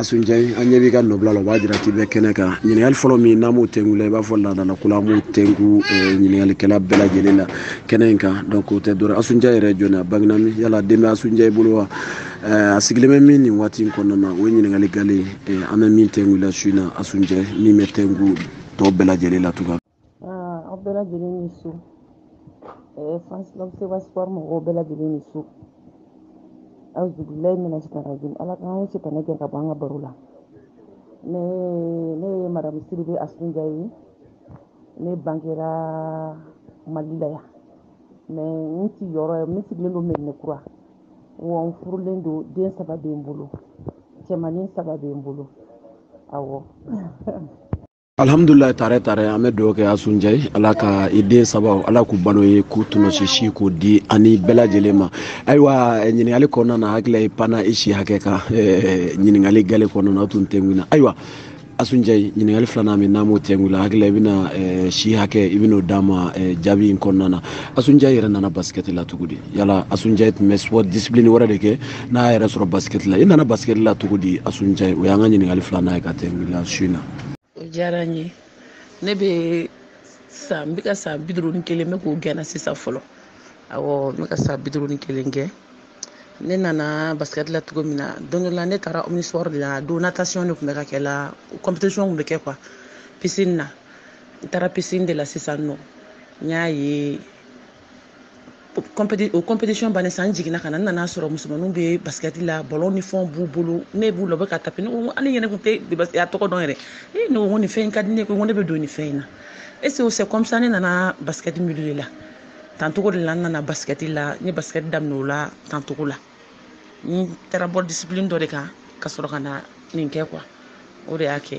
asun jayi an ɲɛ b'i ka nɔbila la o b'a jira k'i bɛ kɛnɛ kan ɲininkali fɔlɔ min n'an b'o tɛngu i la i b'a fɔ laadala ko la an b'o tɛngu ɲininkalikɛla bɛɛ lajɛlen la kɛnɛ in kan donc o tɛ dɔrɔn asun jayi yɛrɛ jɔn ye a bangena min yala den bɛ asun jayi bolo wa a sigilen bɛ min nin waati in kɔnɔna na o ye ɲininkali gale ye an bɛ min tɛngu i la su in na asun jayi min bɛ tɛngu tɔ bɛɛ lajɛlen la tugun aw bɛɛ lajɛlen ni su fansibaseba sipɔri mɔgɔw bɛɛ lajɛlen ni su awuzubilayi mina sitani rajim ala ka sitanɛ gɛn ka bɔ an ka baro la ne ne ye madamu sidibe asun jayi ye ne bangera mali la yan mɛ n sigiyɔrɔ ye ne sigilen don medina kura wa n furulen don den saba bɛ n bolo cɛmanin saba bɛ n bolo awɔ alhamdulilayi tare tare an bɛ dugawu kɛ asun jayi ala ka i den sabaw ala k'u balo i ye k'u tɔnɔsi si k'o di ani bɛɛ lajɛlen ma ayiwa ɲininkali kɔnɔna na hakili la i panna i si hakɛ kan ɲininkali gale kɔnɔna tun tɛngu i na ayiwa asun jayi ɲininkali filanan min n'an b'o tɛngu i la hakili la i bɛna eh, si hakɛ i bɛn'o d'an ma eh, jaabi in kɔnɔna na asun jayi yɛrɛ nana basikɛti la cogo di yala asun jayi tun bɛ sport discipline wɛrɛ de kɛ n'a y'a yɛrɛ sɔrɔ basikɛti la i nana basikɛti la cogo di asun jayi o y'an ka ɲininkali filanan ye ka tɛngu i la su in na o diyara n ye ne bɛ san n bɛ ka san bi duuru ni kelen n bɛ k'o gɛnna sisan fɔlɔ awɔ n bɛ ka san bi duuru ni kelen gɛn ne nana basket la cogo min na don dɔ la ne taara omnisport de la don natation de tun bɛ ka kɛ la compétition tun bɛ kɛ quoi piscine na n taara piscine de la sisan nɔ n y'a ye o compétition bannen sa n jiginna ka na n nana sɔrɔ musomaninw bɛ basket la ballon ni fɛnw b'u bolo ne b'u la u bɛ ka taper ne ko hali yɛrɛ tun tɛ a tɔgɔ dɔn yɛrɛ ee ne ko nin fɛn in ka di ne ye ko ne bɛ don nin fɛn in na et c'est comme ça ne nana basket milieu de la tan cogo de la n nana basikɛti la n ye basikɛti daminɛ o la tan cogo la n taara bɔ disipilini dɔ de kan ka sɔrɔ ka na nin kɛ quoi o de y'a kɛ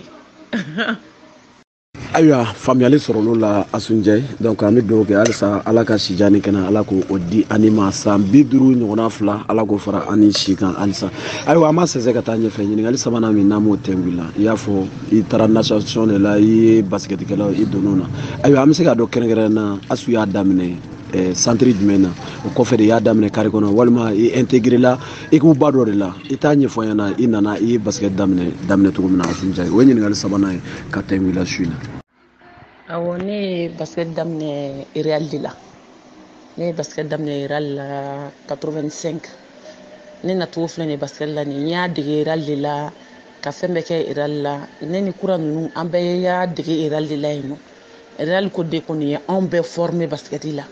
ayiwa faamuyali sɔrɔl'o la asun jayi donc an bɛ dugawu kɛ halisa ala ka sijan ni kɛnɛya ala k'o o di an n'i ma san bi duuru ɲɔgɔnna fila ala k'o fara an n'i si kan halisa ayiwa an b'a sɛnsɛn ka taa ɲɛfɛ ɲininkali sabanan min n'an b'o tɛngu i la i y'a fɔ i taara natation de la i ye basikɛtikɛlaw i donn'o na ayiwa an bɛ se k'a dɔn kɛrɛnkɛrɛn na asu y'a daminɛ eh, santiri jumɛn na o kɔfɛ de y'a daminɛ kare kɔnɔ walima i intégrela ekipuba dɔ de la i t'a ɲɛfɔ an ɲɛna i nana i ye basikɛti daminɛ daminɛ cogo min na asun jayi o ye ɲininkali sabanan ye ka tɛngu i la su in na awɔ ne ye basket daminɛ real de la ne ye basket daminɛ real la 85 ne nacogo filɛ nin basket la nin n y'a dege real de la ka fɛn bɛɛ kɛ real la ne ni kura ninnu an bɛɛ y'a dege real de la yen nɔ real ko de kɔni ye anw bɛɛ former basket la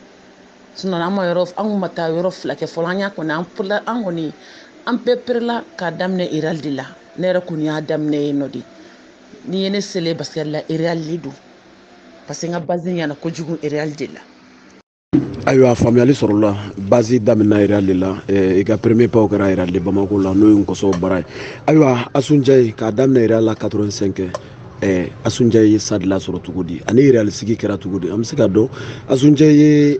sinɔn an ma yɔrɔ an kun ma taa yɔrɔ fila kɛ fɔlɔ an y'a kɔni an perela an kɔni an bɛɛ perela k'a daminɛ real de la ne yɛrɛ kɔni y'a daminɛ yen nɔ de n'i ye ne selen basket la real de don parce que n ka base ɲɛna kojugu real de la ayiwa faamuyali sɔrɔla basi daminɛna real de la eh, i ka premier pas kɛra real de bamako la n'o ye nkɔsɔn bara ye ayiwa asu ndiaye k'a daminɛ real la 85 eh, asu ndiaye ye sadila sɔrɔ cogo di ani real sigi kɛra cogo di an bɛ se k'a dɔn asu ndiaye ye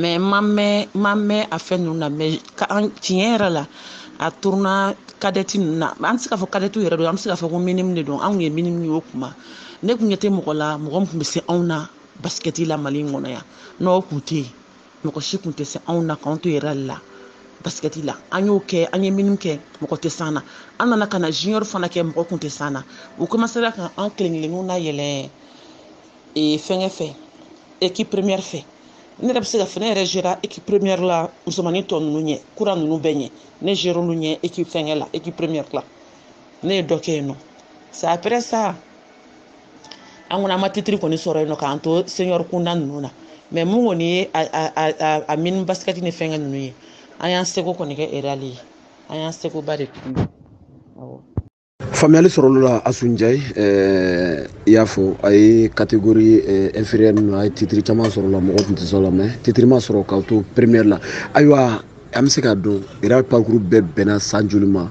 mais n ma mɛɛn n ma mɛɛn a fɛn ninnu na mais ka an tiɲɛ yɛrɛ la a tournoi kadɛti ninnu na an tɛ se k'a fɔ kadɛtiw yɛrɛ don an bɛ se k'a fɔ ko minimu de don an kun ye minimu ye o kuma ne kun ɲɛ tɛ mɔgɔ la mɔgɔ min kun bɛ se anw na basikɛti la mali in kɔnɔ yan n'o kun tɛ yen mɔgɔ si kun tɛ se anw na k'anw to real la basikɛti la an y'o kɛ an ye minimu kɛ mɔgɔ tɛ s'an na an nana ka na junior fana kɛ mɔgɔ kun tɛ s'an na u komasera ka an kelen kelenninw nayɛlɛ ee fɛnkɛ fɛ équipe première fɛ ne yɛrɛ bɛ se k'a fɔ ne yɛrɛ zera équipe première la musomanin tɔ ninnu ɲɛ kura ninnu bɛɛ ɲɛ ne zer'olu ɲɛ équipe fɛnkɛ la équipe première la ne ye dɔ kɛ yen nɔ sa après ça an kɔni an ma titiri kɔni sɔrɔ yen nɔ k'an to senior kunda ninnu na mais min kɔni ye a mini basikɛti ni fɛnkɛ ninnu ye an y'an seko kɔni kɛ real ye an y'an sekoba de kɛ awɔ faamuyali sɔrɔl'o la asu ndiaye eh, i y'a fɔ a ye catégorie eh, inférieur ninnu a ye titiri caman sɔrɔ la mɔgɔ tun tɛ s'aw la mais titiri ma sɔrɔ k'aw to première la ayiwa an bɛ se k'a dɔn real parcours bɛɛ bɛnna san joli ma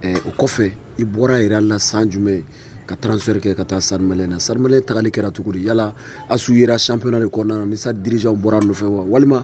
eh, o kɔfɛ i bɔra real la san jumɛn ka transfert kɛ ka taa stade malien na stade malien tagali kɛra cogo di yala asu yera championnat de kɔnɔna na ni stade dirigeant bɔr'a nɔfɛ wa walima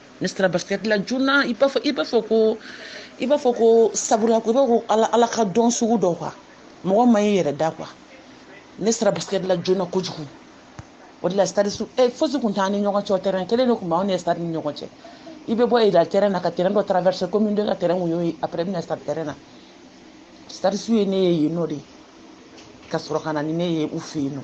ne sera basikɛti la joona i b'a fɔ i b'a fɔ ko i b'a fɔ ko sabula ko i b'a ko ala ala ka don sugu dɔ quoi mɔgɔ man ɲi i yɛrɛ da quoi ne sera basikɛti la joona kojugu o de la stadistew ɛ fosi kun t'an ni ɲɔgɔn cɛ o tɛrɛn kelen de kun b'anw ni stade ni ɲɔgɔn cɛ i bɛ bɔ real tɛrɛn na ka tɛrɛn dɔ tarawɛrɛse commune deux ka tɛrɛn kun y'o ye apɛrɛ i bɛ na stade tɛrɛn na stadistew ye ne ye yen nɔ de ka sɔrɔ ka na ni ne ye u fɛ yen nɔ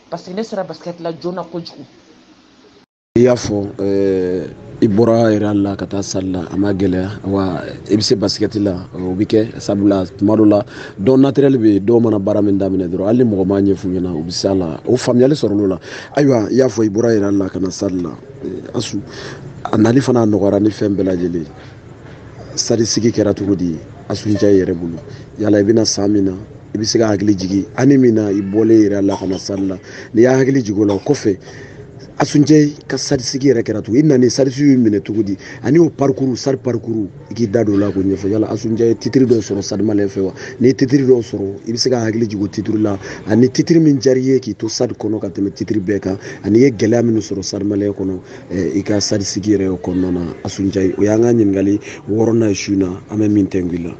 parce que ne sera basket la joona kojugu i y'a fɔ eh, i bɔra real la ka taa stade la a ma gɛlɛya wa i bɛ se basikɛti la o bɛ kɛ sabula tuma dɔ la don naturel bɛ yen dɔw mana baara min daminɛ dɔrɔn hali ni mɔgɔ m'a ɲɛf'u ɲɛna u bɛ s'a la o faamuyali sɔrɔl'o la ayiwa i y'a fɔ i bɔra real la ka na stade la eh, asu a nali fana nɔgɔyara ni fɛn bɛɛ lajɛlen stade sigi kɛra cogo di asu ndiaye yɛrɛ bolo yala i bɛna san min na i bɛ se ka hakili jigin année min na i bɔlen real la ka na stade la n'i y'a hakili jigin o la o kɔfɛ asu ndiaye ka stade sigi yɛrɛ kɛra cogo i nana ni stadistes y'i minɛ cogo di ani o parcours stade parcours i k'i da don o la k'o ɲɛfɔ yala asu ndiaye ye titiri dɔw sɔrɔ stade malien fɛ wa n'i ye titiri dɔw sɔrɔ i bɛ se ka hakili jigin o titiri la ani titiri min diyara i ye k'i to stade kɔnɔ ka tɛmɛ titiri bɛɛ kan ani i ye gɛlɛya minnu sɔrɔ stade malien kɔnɔ i ka stade sigi yɛrɛ kɔnɔna na asu ndiaye o y'an ka ɲininkali wɔɔrɔnan ye su in na an bɛ min tɛnku i la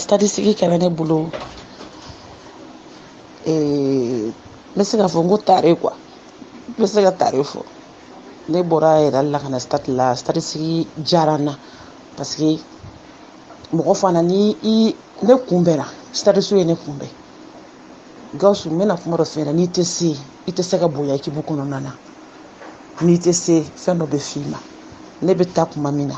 stade sigi kɛra ne bolo n bɛ se k'a fɔ n ko tare quoi n bɛ se ka tare fɔ ne bɔra real la ka na stade la stade sigi diyara n na parce que mɔgɔ fana ni i ne kunbɛnna stadistes ye ne kunbɛn gawusu n bɛna kuma dɔ f'i ɲɛna n'i tɛ se i tɛ se ka bonya équipe kɔnɔna na n'i tɛ se fɛn dɔ bɛ f'i ma ne bɛ taa kuma min na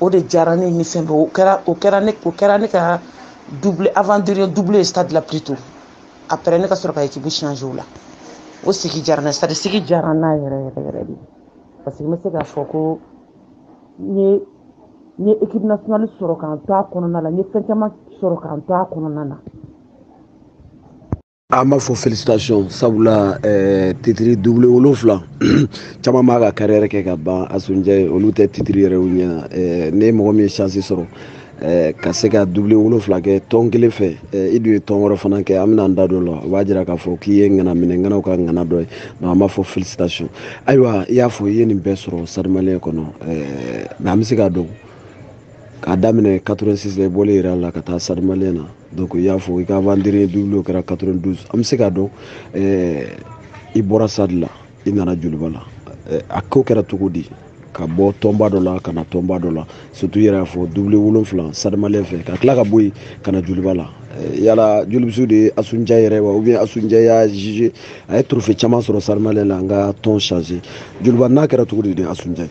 o de diyara ne ni fɛn bɛɛ o kɛra o kɛra ne o kɛra ne ka avant-dernier doublé stade la plutôt après ne ka sɔrɔ ka équipe changer o la o sigi diyara n na stade sigi diyara n na yɛrɛ yɛrɛ yɛrɛ de parce que n bɛ se k'a fɔ ko n ye n ye équipe nationale sɔrɔ ka n to a kɔnɔna la n ye fɛn caman sɔrɔ ka n to a kɔnɔna na an b'a fɔ félicitations sabula eh, titiri doublé wolonfila caman b'a ka carrière kɛ ka ban asu ndiaye olu tɛ titiri yɛrɛ ye eh, ni mɔgɔ min ye chance sɔrɔ eh, ka se ka doublé wolonfila kɛ tɔn kelen fɛ eh, i dun ye tɔn wɛrɛ fana kɛ an bɛna an da don o la o b'a jira k'a fɔ k'i ye ŋana min ye ŋanaw ka ŋana dɔ ye donc an b'a fɔ félicitations ayiwa i y'a fɔ i ye nin bɛɛ sɔrɔ stade malien kɔnɔ eh, mais an bɛ se k'a dɔn k'a daminɛ 86 la i bɔlen real la ka taa stade malien na donc i y'a fɔ i ka avant-dernier doublé o kɛra 92 an bɛ se k'a dɔn eh, i bɔra stade la i nana joliba la eh, a ko kɛra cogo di ka bɔ tɔnba dɔ la ka na tɔnba dɔ la surtout i yɛrɛ y'a fɔ doublé wolonfila stade malien fɛ ka tila ka bɔ yen ka na joliba la eh, yala jolibistes de ye asu ndiaye yɛrɛ wa ou bien asu ndiaye y'a jugé a ye trophée caman sɔrɔ stade malien la an ka tɔn changer joliba na kɛra cogo di de asu ndiaye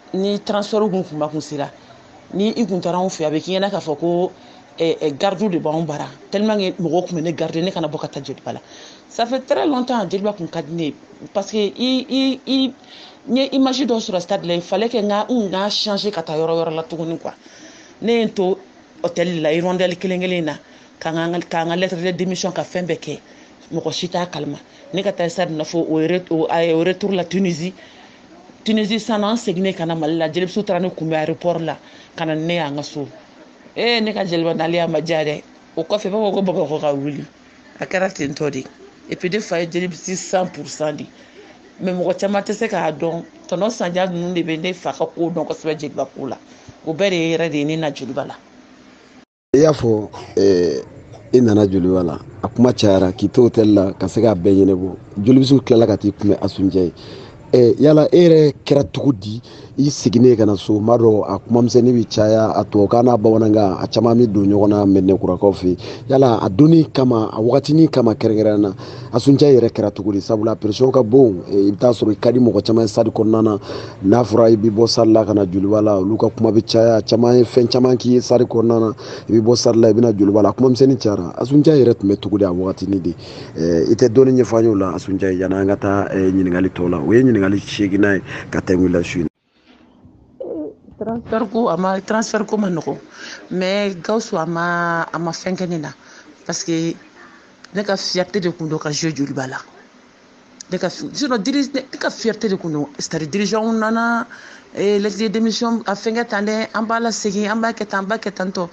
ni transfert kun kuma kun sera ni i kun taara anw fɛ a bɛ k'i ɲɛna k'a fɔ ko eh, eh, gardiw de b'anw bara tellement que mɔgɔw tun bɛ ne garder ne kana bɔ ka taa jeliba la ça fait très longtemps jeliba kun ka di ne ye parce que i i i n ye image dɔ sɔrɔ stade la il fallait que n ka n ka changer ka taa yɔrɔ wɛrɛ la tuguni quoi ne ye n to hôtel la hirondelle kelen kelen in na ka n ka ka n ka lettre de démission ka fɛn bɛɛ kɛ mɔgɔ si t'a kalama ne ka taa stade na fo au retour la tunisie tunisie san an seginnen ka na mali la jelibistes taara ne kunbɛn aéroport la ka na ne y'an ka so ee ne ka jeliba naliya ma diya dɛ o kɔfɛ b'a fɔ ko bamakɔ ka wuli a kɛra ten tɔ de et puis ne fa ye jelibiste cent pourcent de mais mɔgɔ caman tɛ se k'a dɔn tɔnɔ sanjan ninnu de bɛ ne fa ka ko dɔn kosɛbɛ jeliba ko la o bɛɛ de ye yɛrɛ de ye ne na jeliba la i y'a fɔ eh, i nana joliba la a kuma cayara k'i to hôtel la ka se k'a bɛɛ ɲɛnabɔ jolibisiw tilala ka t'i kunbɛn asuncɛ ye eh, yala e yɛrɛ kɛra cogo di i seginnen ka na so m'a dɔn a kumamisɛnni bɛ caya a tubabukan n'a bamanankan a caman bɛ don ɲɔgɔn na mɛnɛkurakaw fɛ yen yala a donni kama a wagatinin kama kɛrɛnkɛrɛnnen na asuncɛ yɛrɛ kɛra cogo di sabula pression ka bon eh, i bɛ taa sɔrɔ i ka di mɔgɔ caman ye stade kɔnɔna na n'a fɔra i bɛ bɔ stade la ka na joliba la olu ka kuma bɛ caya caman ye fɛn caman k'i ye stade kɔnɔna na i bɛ bɔ stade la i bɛ na joliba la kumamisɛnnin cayara asuncɛ yɛrɛ tun bɛ cogo di a wagatini de eh, i tɛ dɔɔni ɲɛfɔ an y'o la asuncɛ yanni an ka taa eh, ɲininkali tɔw la o ye ɲininkali seeginnan ye ka tɛmɛ la su in transfert ko a ma transfert ko ma nɔgɔ mais gawusu a ma a ma fɛn kɛ ne na parce que ne ka fierté de kun don ka jouer joliba la ne ka sinon diri ne ka fierté de kun don c'est à dire dirigeantw nana lettre de démission a fɛnkɛ tan dɛ an b'a lasegin an b'a kɛ tan an b'a kɛ tan tɔ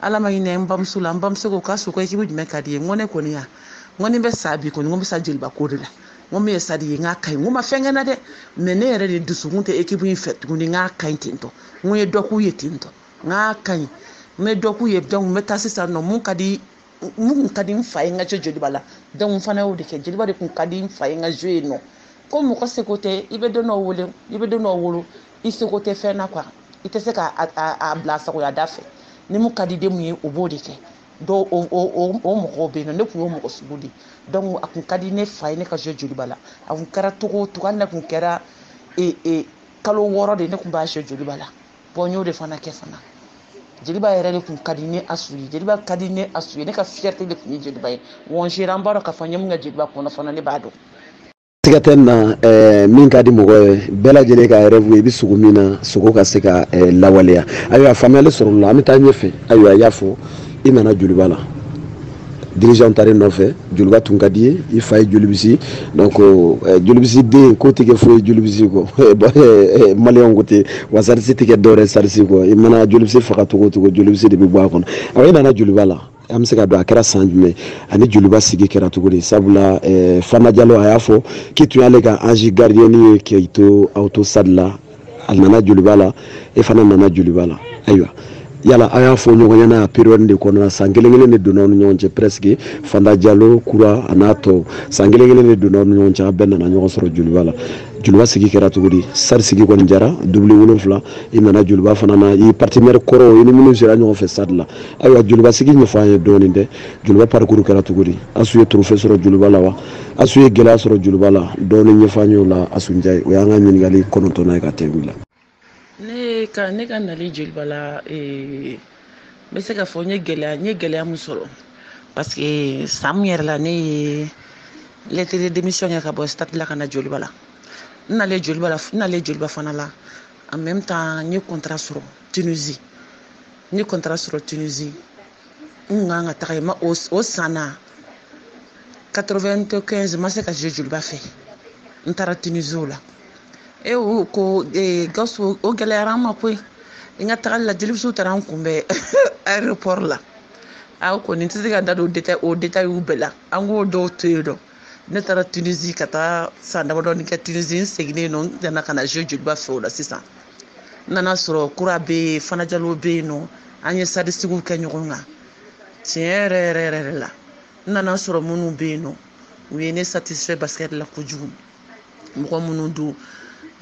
ala ma hinɛ n bamuso la n bamuso ko k'asu ko équipe jumɛn ka di ye n ko ne kɔni ya n ko ni bɛ sa bi kɔni n ko bɛ sa joliba ko de la n ko min ye stade ye n k'a ka ɲi n ko ma fɛn kɛ n na dɛ mais ne yɛrɛ de dusukun tɛ équipe in fɛ tuguni n k'a ka ɲi ten tɔ n ko ye dɔ k'u ye ten tɔ n k'a ka ɲi n bɛ dɔ k'u ye donc n bɛ taa sisan nɔ mun ka di mun kun ka di n fa ye n ka jouer joliba la donc n fana y'o de kɛ joliba de kun ka di n fa ye n ka jouer yen nɔ ko mɔgɔ seko tɛ i bɛ den dɔ wele i bɛ den dɔ wolo i seko tɛ fɛn na quoi i tɛ se ka a bila sagoya da fɛ ni mun ka di den mun ye o b'o de kɛ dɔw o o o mɔgɔw bɛ yen nɔ ne tun y'o mɔgɔ sugu de ye a kun ka di ne fa ye ne ka jouer joliba la a kun kɛra cogo o cogo hali n'a kun kɛra ee ee kalo wɔɔrɔ de ne kun b'a jouer joliba la n y'o de fana kɛ fana joliba yɛrɛ de kun ka di ne asu ye joliba ka di ne asu ye ne ka fierté de kun ye joliba ye wa n sera an b'a dɔn k'a fɔ n ye mun kɛ joliba kɔnɔ fana ne b'a dɔn siga tɛ na eh, min ka di mɔgɔ ye bɛɛ lajɛlen ka rêve ye i bɛ sugo min na sugo ka se ka eh, lawaleya ayiwa faamuyali sɔrɔla an bɛ taa ɲɛfɛ ayiwa i y'a fɔ i nana joliba la dirigeant taar'i nɔfɛ joliba tun ka di ye i fa ye jolibisi donc eh, jolibisi den ko tɛ kɛ foyi ye jolibisi kɔ maliyɛnw ko ten wa stadiste tɛ kɛ dɔwɛrɛ stadiste kɔ i mana jolibisi faga cogo o cogo jolibisi de bɛ bɔ a kɔnɔ awa i nana joliba la an bɛ se ka dɔn a kɛra san jumɛn ani joliba sigi kɛra cogo di sabula eh, fanta jalo a y'a fɔ k'i tun y'ale ka ange gardien ye k'i to aw to stade la a nana joliba la e fana nana joliba la ayiwa yala a y'a fɔ ɲɔgɔn ɲɛna a période de kɔnɔna san kelen kelen de donna aw ni ɲɔgɔn cɛ presque fanta jalo kura a n'a tɔw san kelen kelen de donna aw ni ɲɔgɔn cɛ a bɛɛ nana ɲɔgɔn sɔrɔ joliba la joliba sigi kɛra cogo di stade sigi kɔni diyara doublé wolonfila i nana joliba fana na i partenaire kɔrɔw i ni minnu sera ɲɔgɔn fɛ stade la ayiwa joliba sigi ɲɛfɔ an ye dɔɔnin dɛ joliba parcours kɛra cogo di asu ye trophée sɔrɔ joliba la wa asu ye gɛlɛya sɔrɔ joliba la dɔɔnin ɲɛfɔ an ye o la asunjɛ o y'an ka ɲininkali kɔnɔntɔnnan ye ka tɛngu i la ne ka ne ka nali joliba la eh, n bɛ se ka fɔ n ye gɛlɛya n ye gɛlɛya min sɔrɔ parce que san min yɛrɛ la ne ye lettre de démission kɛ ka bɔ stade la ka na joliba la n nalen joliba la n nalen joliba fana la en même temps n ye contrat sɔrɔ tunisi n ye contrat sɔrɔ tunisi n tun kan ka taga yen nɔ o o san na 95 ma se ka jouer joliba fɛ n taara tunisi o la e o ko e, gawusu o gɛlɛyara an ma koyi n ka tagali la jelibisiw taara n kunbɛn aéroport la a kɔni n tɛ se ka da don detail o detailw bɛɛ la an k'o dɔw to yen nɔ ne taara tunisi ka taa san damadɔni kɛ tunisi n seginnen nɔ n nana ka na jouer joliba fɛ o la sisan n nana sɔrɔ kura bɛ yen fana jalo bɛ yen nɔ an ye stade sigiw kɛ ɲɔgɔn kan tiɲɛ yɛrɛ yɛrɛ yɛrɛ la n nana sɔrɔ minnu bɛ yen nɔ u ye ne satisfait basket la kojugu mɔgɔ minnu don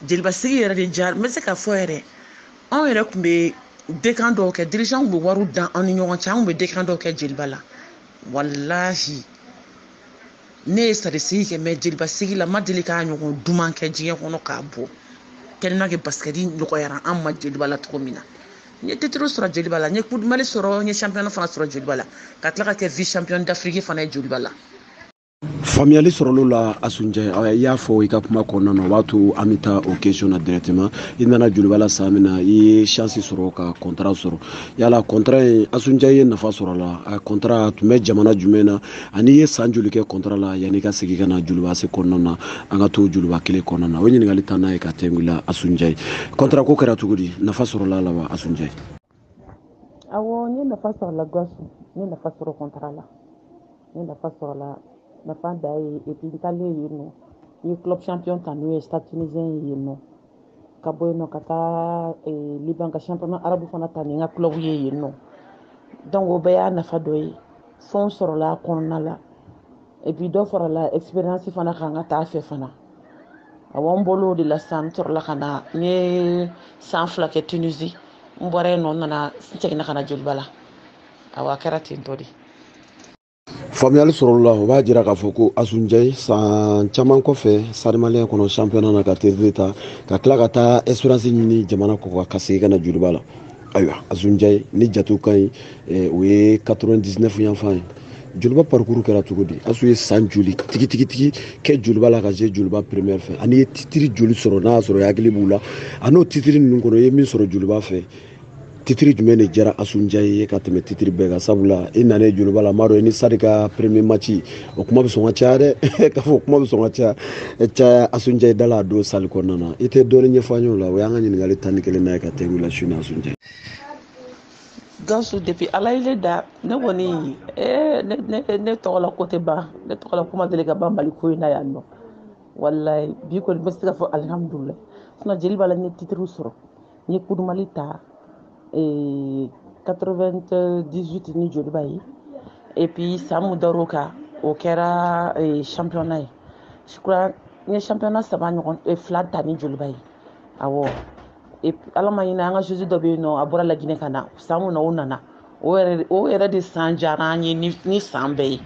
jeliba sigi yɛrɛ de diyara n bɛ se ka fɔ yɛrɛ anw yɛrɛ tun bɛ dekan dɔw kɛ dirigeant tun bɛ wariw dan an ni ɲɔgɔn cɛ an tun bɛ dekan dɔw kɛ jeliba la walahi ne ye stade sigi kɛ mais jeliba sigi la ma deli k'a ɲɔgɔn duman kɛ diɲɛ kɔnɔ k'a bɔ tellement que basket nɔgɔyara an ma jeliba la cogo min na n ye titre sɔrɔ jeliba la n ye coupe du mali sɔrɔ n ye championnat fana sɔrɔ jeliba la ka tila ka kɛ vice champion d'afrique fana ye jeliba la faamuyali sɔrɔl'o la asunjɛ i y'a fɔ i ka kuma kɔnɔna na o b'a to an bɛ taa o question na directement i nana joliba la san min na i ye chance sɔrɔ ka contrat sɔrɔ yala contrat in asunjɛ ye nafa sɔrɔ la a contrat tun bɛ jamana jumɛn na ani i ye san joli kɛ contrat la yanni ka segin ka na joliba AC kɔnɔna na an ka to joliba kelen kɔnɔna na o ɲininkali tannan ye ka tɛngu i la asunjɛ contrat ko kɛra cogo di nafa sɔrɔla la wa asunjɛ Awɔ n ye nafa sɔrɔ a la Gasu, n ye nafa sɔrɔ contrat la, n ye nafa sɔrɔ a la nafa dan ye et puis n taalen yen nɔ, n ye club champion ta n'o ye Stade Tunisien ye yen nɔ, ka bɔ yen nɔ ka taa eh, Liban ka championnat arabu fana ta ni n ka club ye yen nɔ donc o bɛɛ y'a nafa dɔ ye, fɛnw sɔrɔla a kɔnɔna la. et puis dɔ farala expérience fana kan ka taa fɛ fana awɔ n bɔra o de la sisan n sɔrɔla ka na n ye san fila kɛ tunisi n bɔra yen nɔ n nana n seginna ka na joliba la awɔ a kɛra ten tɔ de faamuyali sɔrɔl'o la o b'a jira k'a fɔ ko asunjɛ san caman kɔfɛ stade malien kɔnɔ championnat na ka titre ta ka tila ka taa expérience ɲini jamana kɔ ka segin ka na joliba la ayiwa asunjɛyi ni jatew ka ɲi eh, o ye 99 yanfan ye joliba parcours kɛra cogo di asu ye san joli tigitigitigi kɛ joliba la ka se joliba première fɛ ani i ye titiri joli sɔrɔ n'a y'a sɔrɔ i hakili b'u la an'o titiri ninnu kɔnɔ i ye min sɔrɔ joliba fɛ titiri jumɛn de diyara asunjɛ ye ka tɛmɛ titiri bɛɛ kan sabula i nana joliba la m'a dɔn i ni stade ka premier match o kuma bɛ sɔn ka caya dɛ k'a fɔ kuma bɛ sɔn ka caya caya asunjɛ da la a don salle kɔnɔna na i tɛ dɔɔnin ɲɛfɔ an y'o la o y'an ka ɲininkali tan ni kelen na ye ka tɛ wuli su ni asunjɛ gawusu depuis ala ye ne da ne kɔni eh, ne, ne, ne tɔgɔ la ko tɛ ban ne tɔgɔ la ko ma deli ka ban mali kɔnɔna yan nɔ walayi bi kɔni n bɛ se ka fɔ alihamudulila sinon joliba la n ye titiriw sɔrɔ n ye coupe du mali ta 98 ni joliba ye et puis san mun dar'o kan o kɛra championnat ye je crois n ye championnat saba ɲɔgɔn fila ta ni joliba ye awɔ ala ma ɲinɛ an ka joueuse dɔ bɛ yen nɔ a bɔra laginɛ ka na san mun na o nana o yɛrɛ o yɛrɛ de san diyara an ye ni san bɛɛ ye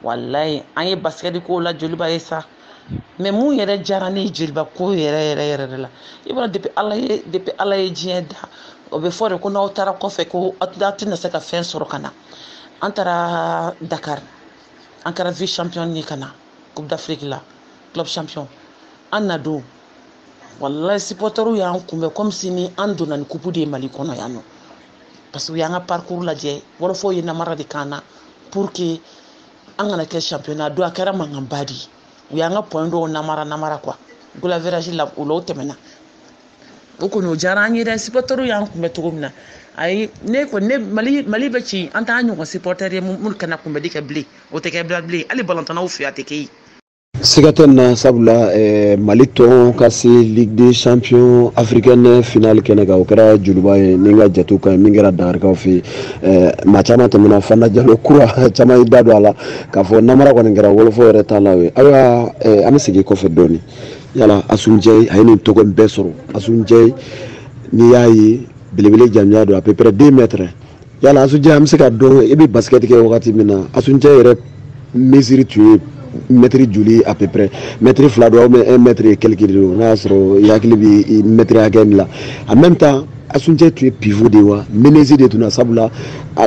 walayi an ye basikɛti k'o la joliba ye sa mais mun yɛrɛ diyara ne ye joliba ko yɛrɛ yɛrɛ yɛrɛ de la i b'a depuis ala ye depuis ala ye diɲɛ da o bɛ fɔ de ko n'aw taara kɔfɛ ko aw tɛna se ka fɛn sɔrɔ ka na an taara dakari an kɛra vice champion ye ka na coupe d'afrique la club champion an na don walayi supportɛriw y'an kunbɛn comme si ni an donna ni kupu de ye mali kɔnɔ yan nɔ parce que u y'an ka parcours lajɛ wɔlɔfɔw ye namara de k'an na pour que an kana kɛ champion a don a kɛra mankanba de ye u y'an ka point dɔw namara namara quoi goal average la o la o tɛmɛna o kɔni o diyara an ye dɛ sipɔtɛriw y'an kunbɛn cogo min na ayi ne kɔni ne mali mali bɛ ci an t'a ɲɔgɔn sipɔtɛri ye minnu ka na kunbɛli kɛ bilen o tɛ kɛ bila bilen hali balontannaw fɛ a tɛ kɛ yen siga tɛ na sabula eh, mali tɔn ka se ligue des champions africaine finale kɛnɛ kan o kɛra joliba ye ni n ka jatew ka ɲi min kɛra dakarikaw fɛ yen eh, maa caman tɛmɛna fana jalo kura caman y'i da don a la k'a fɔ namara kɔni kɛra wolofɔ yɛrɛ t'a la o ye ayiwa eh, an bɛ segin kɔfɛ dɔɔni yala asunjɛyi a ye nin tɔgɔ bɛɛ sɔrɔ asunjɛyi n'i y'a ye belebele jamanjan don à peu près deux mètres yala asunjɛ an bɛ se k'a dɔn i bɛ basikɛti kɛ wagati min na asunjɛ yɛrɛ mesure tun ye mɛtiri joli à peu près mɛtiri fila don ou bien un mɛtiri quelque de don n'a y'a sɔrɔ i hakili bɛ mɛtiri hakɛ min la en même temps asunjɛ tun ye pivot de ye wa meneuse de tun na sabula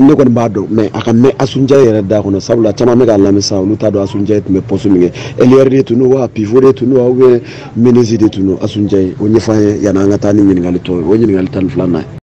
ne kɔni b'a dɔn mais a ka mɛn asunjɛ yɛrɛ da kɔnɔ sabula caman bɛ k'an lamɛn sisan olu t'a dɔn asunjɛ tun bɛ pɔsi min kɛ ailière de tun don wa pivot de tun don wa ou bien meneuse de tun don asunjɛyi o ɲɛfɔ an ye yanni an ka taa ni ɲininkali tɔ ye o ye ɲininkali tan ni filanan ye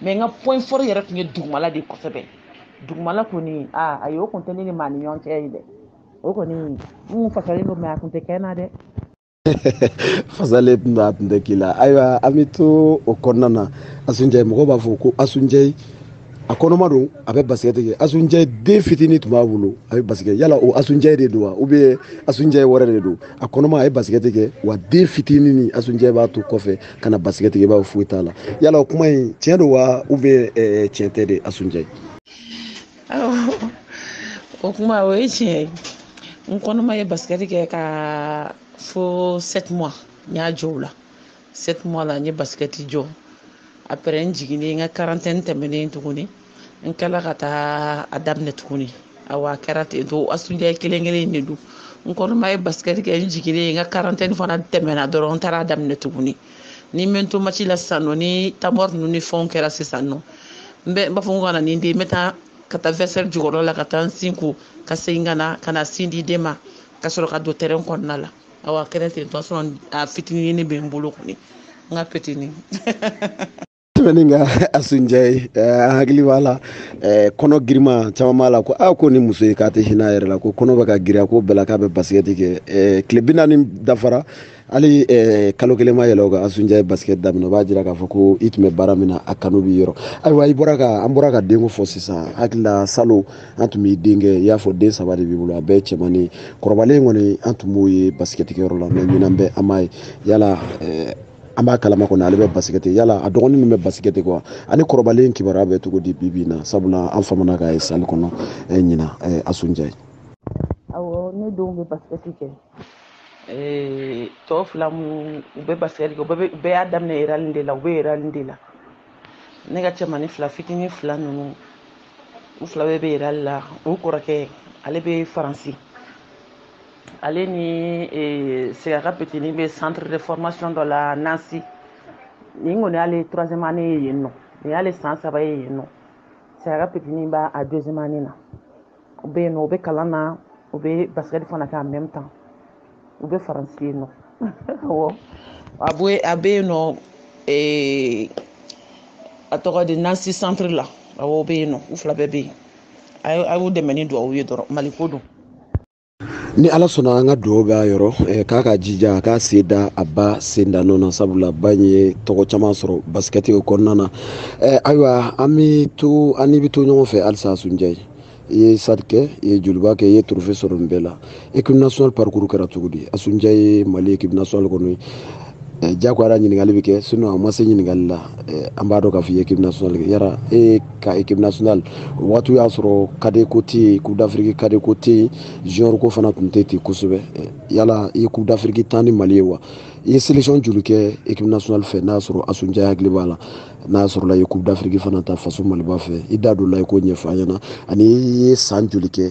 mais n ka point fort yɛrɛ tun ye dugumala de kosɛbɛ dugumala kɔni aa ayi o tun tɛ ne ni maa ni ɲɔgɔn cɛ ye dɛ o kɔni n tun fasalen don mais a tun tɛ kɛ n na dɛ fasalen tun don a tun tɛ k'i la ayiwa an bɛ to o kɔnɔna na asunjɛ mɔgɔw b'a fɔ ko asunjɛ a kɔnɔma don a bɛ basikɛti kɛ asunjɛ den fitinin tun b'a bolo a bɛ basikɛ yala o asunjɛ de don wa ou bien asunjɛ wɛrɛ de don a kɔnɔma a ye basikɛti kɛ wa den fitinin ni asunjɛ b'a to kɔfɛ ka na basikɛti kɛ i b'a fɔ foyi t'a la yala o kuma in tiɲɛ don wa ou bien eh, tiɲɛ tɛ de asunjɛ o kuma o ye tiɲɛ ye n kɔnɔma ye basikɛti kɛ ka fo sept mois n y'a jɔ o la sept mois la n ye basikɛti jɔ après n jiginnen n ka quarantaine tɛmɛnen tuguni n kɛla ka taa a daminɛ tuguni awa a kɛra ten to asunjɛ kelen kelen de don n kɔnɔma ye basikɛti kɛ n jiginnen n ka quarantaine fana tɛmɛna dɔrɔn n taara a daminɛ tuguni ni n bɛ n to match la sisan nɔ ni temps mort ninnu ni fɛnw kɛra sisan nɔ n bɛ n b'a fɔ n ko ka na ni n den n bɛ taa ka taa vestiaire jukɔrɔ la ka taa n sin ko ka segin ka na ka na sin di den ma ka sɔrɔ ka don terrain kɔnɔna la awa a kɛra ten tɔ a fitinin bɛ n bolo kɔni n ka petini tɛmɛnen ka asunjɛ eh, an hakili b'a la eh, kɔnɔ girima caman b'a la ko a ah, ko ni muso ye k'a tɛ hinɛ a yɛrɛ la ko kɔnɔ bɛ ka girinya ko bɛɛ la k'a bɛ basikɛti kɛ eh, tile bi naani dafara hali kalo kelen ma yɛlɛ o kan asunjɛ ye basikɛti daminɛ o b'a jira k'a fɔ ko i tun bɛ baara min na a kanu b'i yɔrɔ ayiwa i bɔra ka an bɔra ka denko fɔ sisan hakili la salon an tun b'i denkɛ i y'a fɔ den saba de b'i bolo a bɛɛ cɛmannin ye kɔrɔbalen kɔni an tun b'o ye basikɛtikɛyɔrɔ la mais ɲinan bɛɛ an m'a ye yala an b'a kalama kɔni ale bɛ basikɛti yala a dɔgɔnin min bɛ basikɛti kɛ wa ani kɔrɔbalen kibaruya bɛ cogo di bibi in na sabula an famana k'a ye salle kɔnɔ eh, ɲinan eh, asunjɛ awɔ ne denw bɛ basikɛti kɛ eh, tɔ fila mu u bɛ basikɛti kɛ u bɛɛ y'a daminɛ réal de la u bɛ réal de la ne ka cɛmani fila fitinin fila ninnu u fila bɛɛ bɛ réal la u kɔrɔkɛ ale bɛ faransi ale ni eh, siga ka petini bɛ centre de formation dɔ la nancy nin kɔni y'ale troisième année ye yen nɔ nin y'ale san saba ye yen nɔ siga ka petini b'a a deuxième année na u bɛ yen nɔ u bɛ kalan na u bɛ basket fana kɛ en même temps u bɛ faransi yen nɔ awɔ a bɛ a bɛ yen nɔ eh, a tɔgɔ di nancy centre la awɔ u bɛ yen nɔ u fila bɛɛ bɛ yen a y'u dɛmɛ ni dugawu ye dɔrɔn mali ko don ni ala sɔnna an ka dugawu b'a yɔrɔ eh, k'a k'a jija a k'a sen da a ba sen da nɔ na sabula ba in ye tɔgɔ caman sɔrɔ basikɛti o kɔnɔna na eh, ayiwa an bɛ to an n'i bɛ to ɲɔgɔn fɛ halisa asunjɛ i ye stade kɛ i ye joliba kɛ i ye trophée sɔrɔ nin bɛɛ la équipe nationale parcours kɛra cogo di asunjɛ ye mali équipe nationale kɔnɔ ye eh, jagoya la ɲininkali bɛ kɛ sinon a ma se ɲininkali la eh, an b'a dɔn k'a fɔ i ye équipe nationale kɛ yala e ye ka équipe nationale o wagatiw y'a sɔrɔ cadet ko tɛ yen coupe d'afrique cadet ko tɛ yen junior ko fana tun tɛ ten kosɛbɛ eh, yala i ye coupe d'afrique tan ni mali ye wa i ye sélection joli kɛ équipe nationale fɛ n'a sɔrɔ asunjɛ hakili b'a la n'a sɔrɔla i ye coupe d'afrique fana ta faso maliba fɛ i da don a la i k'o ɲɛfɔ an ɲɛna ani i ye san joli kɛ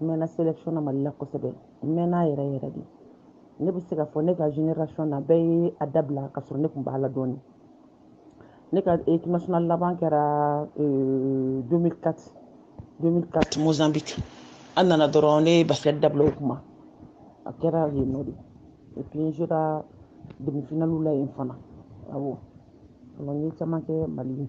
n mɛɛnna sélection na mali la kosɛbɛ n mɛɛnna yɛrɛ yɛrɛ de ne bɛ se k'a fɔ ne ka génération na bɛɛ ye a dabila ka sɔrɔ ne kun b'a la dɔɔni ne ka équipe nationale laban kɛra 2004 2004 mozambique an nana dɔrɔn ne ye basket dabila o kuma a kɛra yen nɔ de et puis n sera demi finaliw la yen fana awɔ alors n ye caman kɛ mali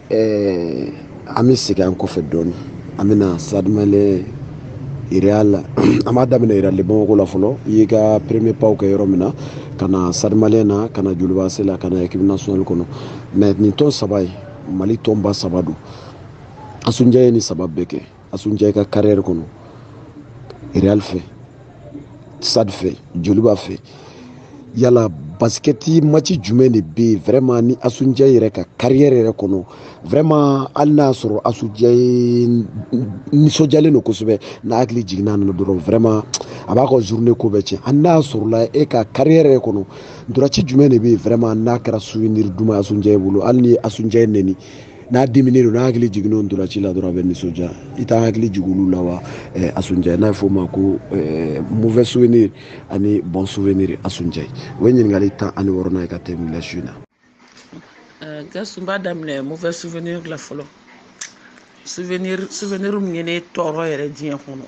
an bɛ segin an kɔfɛ dɔɔnin an bɛna stade malien real an b'a daminɛ real de bamakɔ la fɔlɔ i y'i ka premier paw kɛ yɔrɔ min na ka na stade malien na ka na joliba ac la ka na équipe nationale kɔnɔ mais nin tɔn saba ye mali tɔnba saba don asunjɛ ye nin saba bɛɛ kɛ asunjɛ i ka carrière kɔnɔ real fɛ stade fɛ joliba fɛ yala basikɛti maci jumɛn de bɛ yen vraiment ni asunjɛ yɛrɛ ka carrière yɛrɛ kɔnɔ vraiment hali n'a y'a sɔrɔ asunjɛ nisɔndiyalen don kosɛbɛ n'a hakili jiginna nin na dɔrɔn vraiment a b'a ka journée ko bɛɛ tiɲɛ hali n'a y'a sɔrɔla e ka carrière yɛrɛ kɔnɔ ntolaci jumɛn de bɛ yen vraiment n'a kɛra souvenir duman ye asunjɛ bolo hali n'i ye asunjɛ nɛni n'a diminen don n'a hakili jiginn'o ntolaci la dɔrɔn a bɛ nisɔndiya i t'an hakili jigin olu la wa eh, asunjɛ n'a bɛ f'o ma ko eh, mauvais souvenir ani bon souvenir asunjɛ o ye ɲininkali tan ani wɔɔrɔnan ye ka tɛmɛ la su in na. Eh, gasu n b'a daminɛ mauvais souvenir la fɔlɔ souvenir souvenir min ye ne tɔɔrɔ yɛrɛ diɲɛ kɔnɔ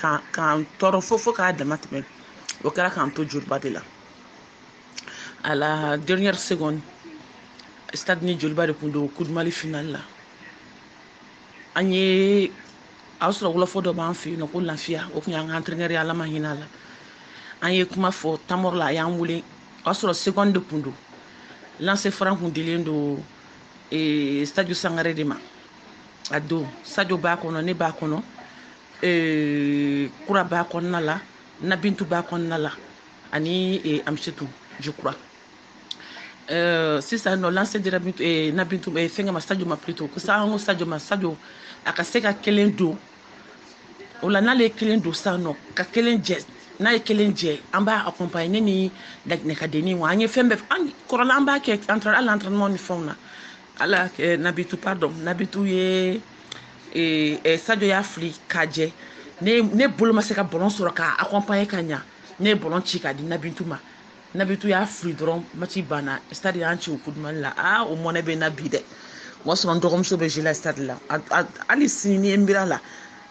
k'an k'an tɔɔrɔ fo fo k'a dama tɛmɛ o kɛra k'an to joliba de la. à la dernière seconde stade ni joliba de kun don coupe du mali finale la an ye a y'a sɔrɔ wɔlɔfɔ dɔ b'an fɛ yen nɔ ko lafiya o kun y'an ka entraîneur ye ala ma hinɛ a la an ye kuma fɔ temps mort la a y'an wele o y'a sɔrɔ seconde de kun don lancer franc kun dilen don ee sadio sangare de ma a don sadio b'a kɔnɔ ne b'a kɔnɔ ee kura b'a kɔnɔna la nabintu b'a kɔnɔna la ani e, amsetu je crois Euh, sisan nɔ lancer dira eh, nabintu eh, fɛngɛ ma sajo ma plutôt ko sa an ko sajo ma sajo a ka se ka kelen don o la n'ale ye kelen don sisan nɔ ka kelen jɛ n'a ye kelen jɛ an b'a accompagner ne ni laginɛkadenni wa an ye fɛn bɛɛ an kɔrɔla an b'a kɛ entre hali entraînement ni fɛnw na ala eh, nabintu pardon nabintu ye eh, eh, sajo y'a fili k'a jɛ ne ne bolo ma se ka ballon sɔrɔ k'a accompagner ka ɲa ne ye ballon ci k'a di nabintu ma nabintu y'a fili dɔrɔn match banna stade y'an ci o coupe du mali la aa o mɔnɛ bɛ n na bi dɛ o y'a sɔrɔ n dɔgɔmuso bɛ jouer la stade la hali sini ni ye n bira la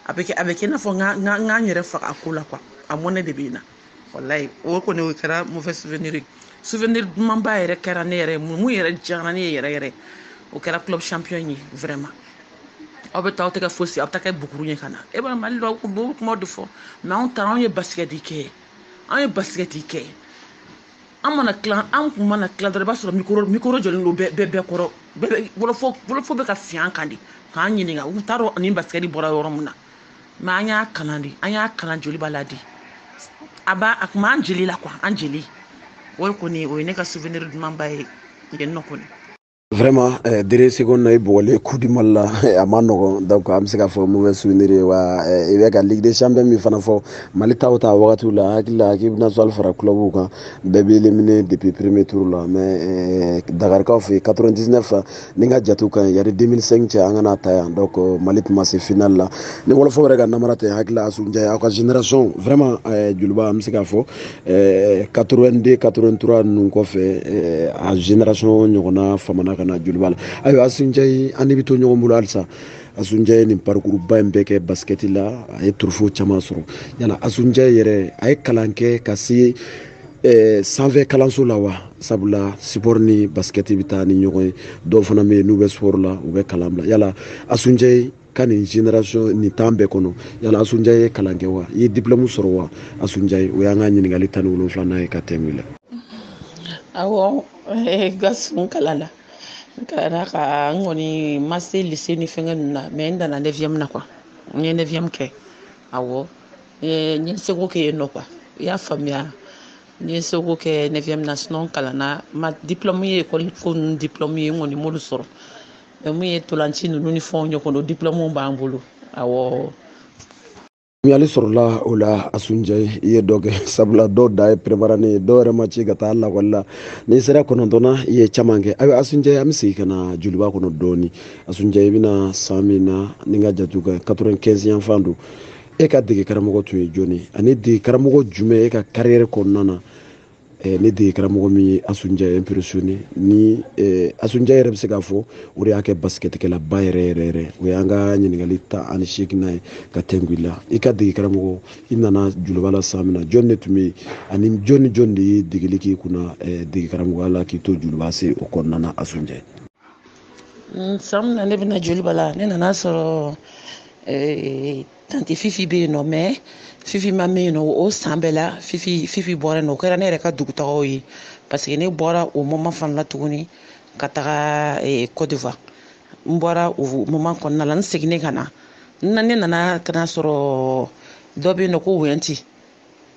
a bɛ kɛ a bɛ kɛ i n'a fɔ n ka n ka n yɛrɛ faga a ko la quoi a mɔnɛ de bɛ n na walayi o kɔni o kɛra mauvais souvenir ye souvenir dumanba yɛrɛ kɛra ne yɛrɛ min yɛrɛ diyara ne ye yɛrɛ yɛrɛ o kɛra club champion ye vraiment aw bɛ taa aw tɛ kɛ fosi aw bɛ taa kɛ buguru ye ka na e b'a mali la aw b'o kuma de fɔ mais anw taara anw ye basikɛti kɛ anw ye basikɛti kɛ an mana tila an kun mana tila dɔrɔn i b'a sɔrɔ micro micro jɔlen don bɛɛ bɛɛ kɔrɔ bɛɛ wɔlɔfɔ wɔlɔfɔ bɛ ka fiɲɛ kan de k'an ɲininka u t'a dɔn an ni basikɛti bɔra yɔrɔ min na mais an y'a kalan de an y'a kalan joliba la de a b'a a kun b'an jeli la quoi an jeli o kɔni o ye ne ka souvenir dumanba ye yen nɔ kɔni vraiment eh, dernière seconde na i bugɔlen coupe du mali la eh, a ma nɔgɔn donc an bɛ se ka fɔ mauvais souvenir ye wa eh, i bɛ ka ligue des champions min fana fɔ mali ta aw ta wagatiw la n hakili la équipe nationale fara clubw kan bɛɛ bɛ éliminer depuis premier tour la mais eh, dakarikaw fɛ yen 99 ni n ka jatew ka ɲi yani 2005 cɛ an kana ta yan donc eh, mali tun ma se final la ni wɔlɔfɔ yɛrɛ ka namara tɛ n hakili la asunjayi aw ka génération vraiment eh, joliba an bɛ se ka fɔ 82 83 ninnu kɔfɛ eh, aw génération ɲɔgɔnna famana ka na joliba la ayiwa asunjayi an n'i bɛ to ɲɔgɔn bolo halisa asunjayi ye nin parcours ba in bɛɛ kɛ basket la a ye trophée caman sɔrɔ yala asunjayi yɛrɛ a ye kalan kɛ ka se eh, sanfɛ kalanso la wa sabula sport ni basket bɛ taa ni ɲɔgɔn ye dɔw fana bɛ yen n'u bɛ sport la u bɛ kalan bila yala asunjayi ka nin génération nin temps bɛɛ kɔnɔ yala asunja ye kalan kɛ wa i ye diplɔmu sɔrɔ wa asunjayi o y'an ka ɲininkali tan ni wolonfilanan ye ka tɛmɛ la awɔ eh, gasu n kalanna n kalanna ka n kɔni ma se lycée ni fɛngɛ ninnu na mais n danna neuvième na quoi n ye neuvième kɛ awɔ eh, n ye seko kɛ yen nɔ quoi i y'a faamuya n ye seko kɛ neuvième na sinon n kalanna ma diplɔmu ye ekɔli ko ninnu diplɔmu ye n kɔni m'olu sɔrɔ min ye ntolaci ninnu ni fɛnw ɲɔgɔn o diplɔmuw b'an bolo awɔ faamuyali sɔrɔla o la asunjayi i ye dɔ kɛ sabula dɔw dan ye première année ye dɔw yɛrɛ ma ci ka taa lakɔli la n'i sera kɔnɔntɔn na i ye caman kɛ ayiwa asunjayi an bɛ segin ka na joliba kɔnɔ dɔɔni asunjayi i bɛna san min na ni n ka jate ka ɲi 95 yan fan don e ka dege karamɔgɔ tun ye jɔni ani dege karamɔgɔ jumɛn e ka kariyɛri kɔnɔna na Eh, ni dege karamɔgɔ min ye asunjayi impressionné ni eh, asunjayi yɛrɛ bɛ se k'a fɔ o de y'a kɛ basikɛtikɛlaba yɛrɛ yɛrɛ yɛrɛ o y'an ka ɲininkali tan ani seeginnan ye ka tɛngu i la i ka dege karamɔgɔ i nana joliba la san min na jɔni de tun bɛ yen ani jɔni ni jɔni de ye degeli k'i kunna eh, dege karamɔgɔya la k'i to joliba AC o kɔnɔna na asunjayi mm, san min na ne bɛna joliba la ne nana sɔrɔ tanti fifi bɛ yen nɔ mais fifi ma mɛɛn yen nɔ o san bɛɛ la fifi fifi bɔra yen nɔ o kɛra ne yɛrɛ ka dugutagaw ye parce que ne bɔra o moment fana la tuguni ka taga eh, côte d'ivoire n bɔra o moment kɔnɔna la n seginnen ka na n na ne nana ka na sɔrɔ dɔ bɛ yen nɔ ko wɛnti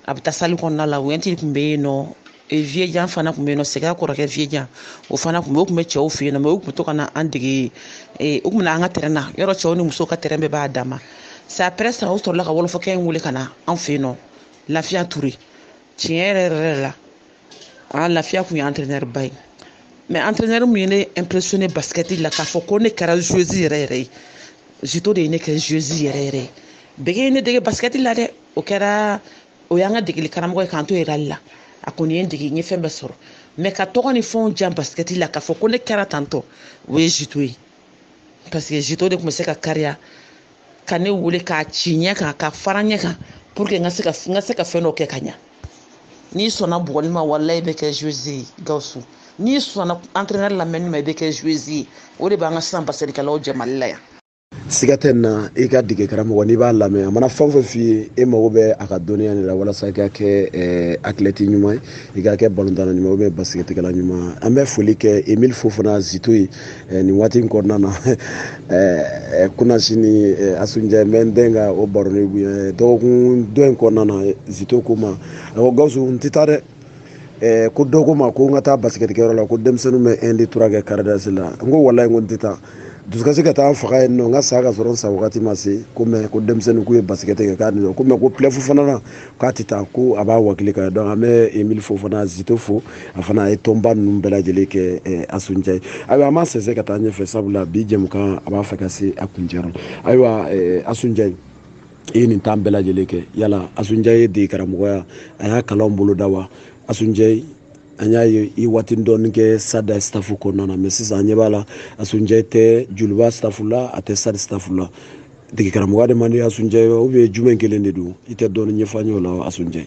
a bɛ taa salle kɔnɔna la wɛnti tun bɛ yen nɔ viyejan fana tun bɛ yen nɔ sɛgɛn kɔrɔkɛ viyejan o fana tun bɛ o tun bɛ cɛw fɛ yen nɔ mais u tun bɛ to ka na an dege u tun bɛ na an ka terrain na yɔrɔ cɛw ni musow ka terrain bɛɛ b'a dan ma c'est après ça u sɔrɔla ka wɔlɔfɔkɛ in wele ka na an fɛ yen nɔ lafiya ture tiɲɛ yɛrɛ yɛrɛ la a lafiya kun ye entraîneur ba ye mais entraîneur min ye ne impressionné basikɛti la k'a fɔ ko ne kɛra joueuse yɛrɛ yɛrɛ ye zito de ye ne kɛ joueuse yɛrɛ yɛrɛ ye bɛgɛ ye ne dege basikɛti la dɛ o kɛra o y'an ka degeli karamɔgɔ ye k'an to réal la a kɔni ye n dege n ye fɛn bɛɛ sɔrɔ mais ka tɔgɔ ni fɛnw diya basikɛti la k'a fɔ ko ne kɛra tantɔ o ye zito ye parce que zito de tun bɛ se ka kariya ka ne wele k'a ci ɲɛ kan ka fara ɲɛ kan pour que n ka se ka n ka se ka fɛn dɔ kɛ ka ɲa n'i sɔnna bugɔli ma walayi i bɛ kɛ joueuse ye gawusu n'i sɔnna entraîneur lamɛnni ma i bɛ kɛ joueuse ye o de b'an ka sisan basikɛtikɛlaw jɛ mali la yan siga tɛ n na i ka dege karamɔgɔ n'i b'a lamɛn a mana fɛn o fɛn f'i ye e mago bɛ a ka dɔnniya de la walasa i ka kɛ eh, athlète ɲuman ye i ka kɛ balontanna ɲuman ou bien basikɛtikɛla ɲuman an bɛ foli kɛ emile fofana zito ye eh, nin waati in kɔnɔna na eh, kunasinin asunjɛ n bɛ n den ka o baroni dɔgɔkun dɔ in kɔnɔna na zito ko n ma a ko gawusu n tɛ taa dɛ ko dɔ ko n ma ko n ka taa basikɛtikɛyɔrɔ la ko denmisɛnninw bɛ un deux trois kɛ karidasi la n ko walayi ko n tɛ taa dusukasi ka taa faga yen nɔ n ka sa ka sɔrɔ n sa wagati ma se ko mais ko denmisɛnnin k'u ye basikɛti kɛ k'a nin ko mais ko play-off fana na k'a tɛ taa ko a b'a wakili kan donc an bɛ emile fofana zito fo a fana a ye tɔnba ninnu bɛɛ lajɛlen kɛ asunjɛ ye ayiwa an b'a sɛnsɛn ka taa ɲɛfɛ sabula bi jɛmukan a b'a fɛ ka se a kuncɛ ayiwa asunjɛ i ye nin tan bɛɛ lajɛlen kɛ yala asunjɛ ye dege karamɔgɔya a y'a kalanw boloda wa asunjɛ an y'a ye i waati dɔɔni kɛ stade staff kɔnɔna na mais sisan an ɲɛ b'a la asunjɛ tɛ joliba staff la a tɛ stade staff la dege karamɔgɔya de man di asunjɛ ye wa ou bien jumɛn kelen de don i tɛ dɔɔni ɲɛfɔ an ye o la asunjɛ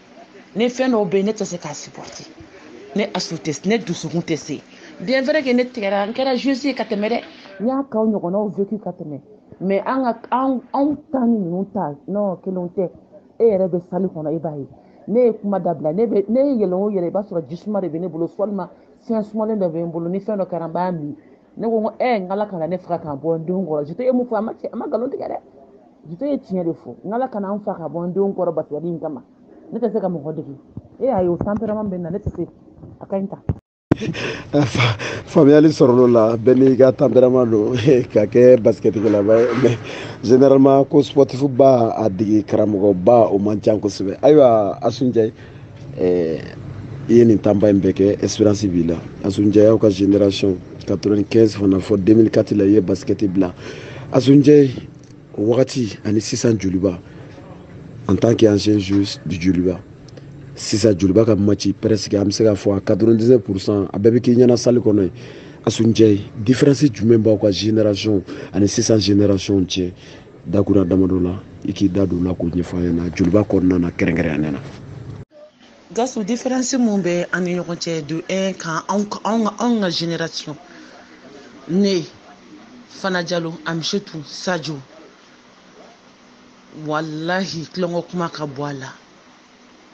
ne fɛn dɔw bɛ yen ne tɛ se k'a supporter ne asu tɛ ne dusukun tɛ se bien vrai que ne tigɛra n kɛra joueuse ye ka tɛmɛ dɛ n y'a kow ɲɔgɔnnaw vécu ka tɛmɛ mais an ka anw anw ta ni ninnu ta non kelenw tɛ e yɛrɛ bɛ salle kɔnɔ e b'a ye ne ye kuma dabila ne bɛ ne ye yɛlɛ o yɛlɛ i b'a sɔrɔ jisuma de bɛ ne bolo walima fɛn sumalen dɔ bɛ n bolo ni fɛn dɔ kɛra n b'a min ne ko ko ɛ n k'ala kana ne faga k'a bɔ n denw kɔrɔ jito ye mun fɔ a ma cɛ a ma nkalon tigɛ dɛ jito ye tiɲɛ de fɔ n k'ala kana n faga k'a bɔ n denw kɔrɔ basikɛti in kama ne tɛ se ka mɔgɔ dege e y'a ye o tempérament bɛ n na ne tɛ se a ka ɲi ta faamuyali sɔrɔl'o la bɛɛ n'i ka tempérament don ka kɛ basikɛtikɛlaba ye mais généralement ko sportif ba a dege karamɔgɔba o man ca kosɛbɛ ayiwa asu njayi i ye nin tanba in bɛɛ kɛ espérance b'i la asu njayi aw ka génération 95 fana fɔ 2004 la i ye basikɛti bila asu njayi o wagati ani sisan joliba en tant que ancienne joueuse du joliba sisan joliba ka maci presque an bɛ se k'a fɔ a 99 pourcent a bɛɛ bɛ k'i ɲɛna salle kɔnɔ yen asu njayi différence jumɛn b'aw ka génération ani sisan génération cɛ dakura damadɔ la i k'i da don o la k'o ɲɛfɔ an ɲɛna joliba kɔnɔna na kɛrɛnkɛrɛnnenya na gawusu différence mun bɛ an ni ɲɔgɔn cɛ de un kan anw ka génération ne fana jalo amisetu sajo walahi tulonkɔ kuma ka bɔ a la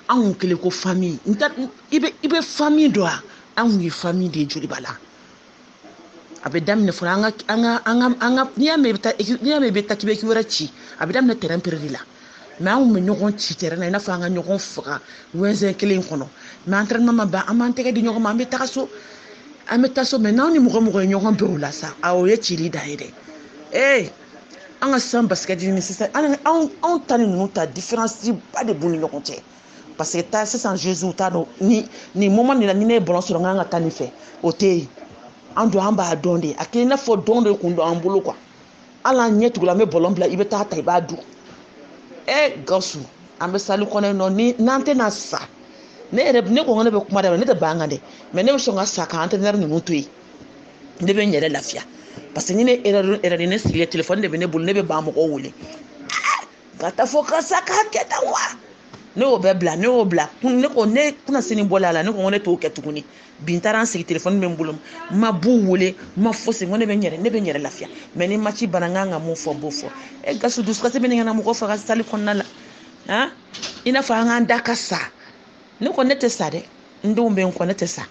anw kɛlen ko famille i bɛ famille dɔn wa anw ye famille de ye joliba la a bɛ daminɛ fɔlɔ an ka an ka an ka an ka n'i y'a mɛn i bɛ taa n'i y'a mɛn i bɛ taa équipe wɛrɛ ci a bɛ daminɛ terrain pere de la mais an kun bɛ ɲɔgɔn ci terrain na i n'a fɔ an ka ɲɔgɔn faga wɛnsɛn kelen kɔnɔ mais entraînement ma ban an b'an tɛgɛ di ɲɔgɔn ma an bɛ taga so an bɛ taa so mais n'anw ni mɔgɔ mɔgɔ ye ɲɔgɔn bɛn o la sa a o ye cili da ye dɛ ee an ka sisan basikɛti ni sisan anw anw ta ni ninnu ta différence ba de b'u ni ɲɔgɔn cɛ parce que taa sisan joueuse t'a dɔn ni nin moment nin na ni ne ye ballon sɔrɔ n kan ka taa nin fɛ o tɛ yen an don an b'a dɔn de a kɛ i n'a fɔ dɔn de kun don an bolo quoi hali an ɲɛ tugula an bɛ ballon bila i bɛ t'a ta i b'a dun ɛ gawusu an bɛ salle kɔnɔ yen nɔ ni n'an tɛna sa ne yɛrɛ ne ko n ko ne bɛ kuma daminɛ ne tɛ ban kan dɛ mais ne bɛ sɔn ka sa ka entraîneur ninnu to yen ne bɛ n yɛrɛ lafiya parce que ni ne erɛri erɛri ne sigilen telefɔni de bɛ ne bolo ne bɛ banc mɔgɔw wele ka taa fɔ karisa k'a kɛ tan wa ne y'o bɛɛ bila ne y'o bila ne ko ne kunasini bɔla a la ne ko ne t'o kɛ tuguni bi n taara n sigi telefɔni bɛ n bolo n ma b'u wele n ma fosi n ko ne bɛ n yɛrɛ ne bɛ n yɛrɛ lafiya mais ni maci banna n kan ka mun fɔ n b'o fɔ e gawusu dusukasi bɛ ɲini ka na mɔgɔ faga salle kɔnɔna la han i n'a fɔ an k'an da ka sa ne ko ne tɛ sa dɛ n denw bɛ n kɔ ne tɛ sa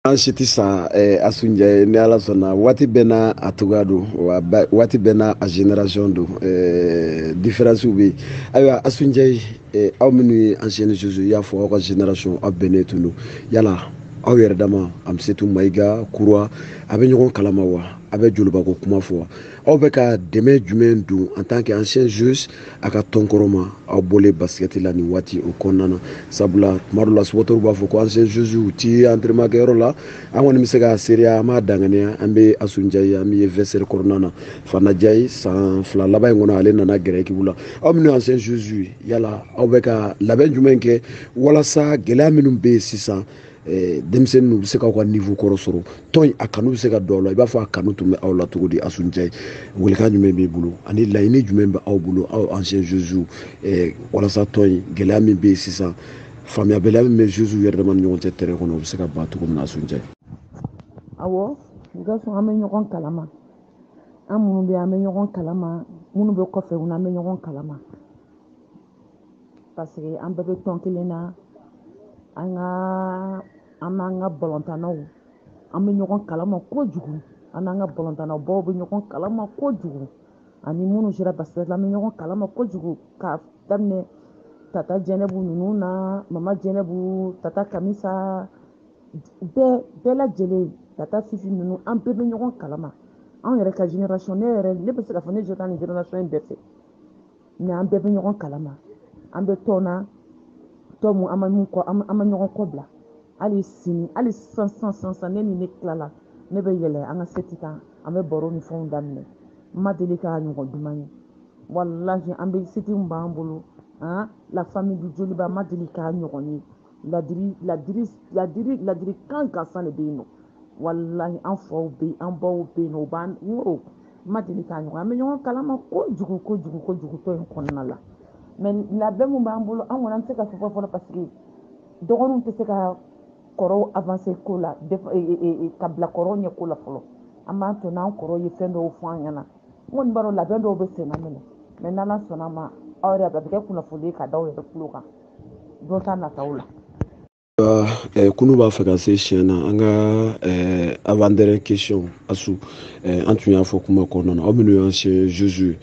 an si tɛ sa eh, asu njayi ni ala sɔnna waati bɛɛ n'a a cogoya don wa waati bɛɛ n'a a génération don eh, différence bɛ yen ayiwa asu njayi eh, aw minnu ye ancienne joueuse i y'a fɔ aw ka génération aw bɛnnen tun don yala aw yɛrɛ dama amisetu mayiga kura a bɛ ɲɔgɔn kalama wa a bɛ jolibako kuma fɔ wa aw bɛ ka dɛmɛ jumɛn don en tant que anciennes joueuses a ka tɔn kɔrɔ ma aw bɔlen basket la nin waati o kɔnɔna na sabula tuma dɔ la supporters b'a fɔ ko anciennes joueuses u ti entraînement kɛyɔrɔ la an kɔni bɛ se ka seereya an b'a danganiya an bɛ Asu Njayi an b'i ye vestiaire kɔnɔna na Fana Njayi san fila laban in kɔnɔ ale nana gɛrɛ équipe la aw minnu ye anciennes joueuses ye yala aw bɛ ka labɛn jumɛn kɛ walasa gɛlɛya minnu bɛ yen sisan Eh, denmisɛnninw bɛ se k'aw ka niveau kɔrɔ sɔrɔ tɔn a kanu bɛ se ka don aw la i b'a fɔ a kanu tun bɛ aw la cogo di Asu Njayi welekan jumɛn b'i bolo ani laɲini jumɛn bɛ aw bolo aw anciennes joueuses eh, walasa tɔn in gɛlɛya min bɛ yen sisan faamuyabaliya min bɛ joueuses yɛrɛ dama ni ɲɔgɔn cɛ terrain kɔnɔ o bɛ se ka ban cogo min na Asu Njayi awɔ gaso an bɛ ɲɔgɔn kalama an minnu bɛ an bɛ ɲɔgɔn kalama minnu bɛ kɔfɛ u n'an bɛ ɲɔgɔn kalama parce que an bɛɛ bɛ tɔn kelen na an ka an n'an ka balontannaw an bɛ ɲɔgɔn kalama kojugu an n'an ka balontannabaw bɛ ɲɔgɔn kalama kojugu ani minnu sera basket la an bɛ ɲɔgɔn kalama kojugu k'a daminɛ tata jɛnɛbu ninnu na mama jɛnɛbu tata kamisa bɛɛ bɛɛ lajɛlen tata fifi ninnu an bɛɛ bɛ ɲɔgɔn kalama anw yɛrɛ ka génération ne yɛrɛ ne bɛ se k'a fɔ ne jɛ taa nin génération in bɛɛ fɛ mais an bɛɛ bɛ ɲɔgɔn kalama an bɛ tɔn na tɔn mun an ma min kɔ an ma ɲɔgɔn kɔ bila hali sini hali sisan sisan sisan sisan ne ni ne tilala ne bɛ yɛlɛ an ka site kan an bɛ baro ni fɛnw daminɛ n ma deli k'a ɲɔgɔn duman ye walahi an bɛ site min b'an bolo la famille du joliba ma deli k'a ɲɔgɔn ye ladiri ladiri ladiri ladirikan gansan de bɛ yen non walahi an faw bɛ yen an baw bɛ yen non u b'an n y'o ma deli k'a ɲɔgɔn an bɛ ɲɔgɔn kalama kojugu kojugu kojugu tɔn in kɔnɔna la mais labɛn min b'an bolo an kɔni an tɛ se ka fɔ fɔlɔ parce que dɔgɔninw tɛ se ka kɔrɔw avancer ko la ka bila kɔrɔw ɲɛ ko la fɔlɔ an b'a to n'an kɔrɔw ye fɛn dɔw fɔ an ɲɛna n kɔni b'a dɔn labɛn dɔw bɛ senna minɛ mais n'Ala sɔnna a ma aw yɛrɛ a bɛ kɛ kunnafoni ye ka da aw yɛrɛ tulo kan don ta nataw la eh, kunu b'a fɛ ka se siɲɛ na an ka eh, avant-dernière question Asu eh, an tun y'a fɔ kuma kɔnɔna na aw minnu ye anciennes joueuses ye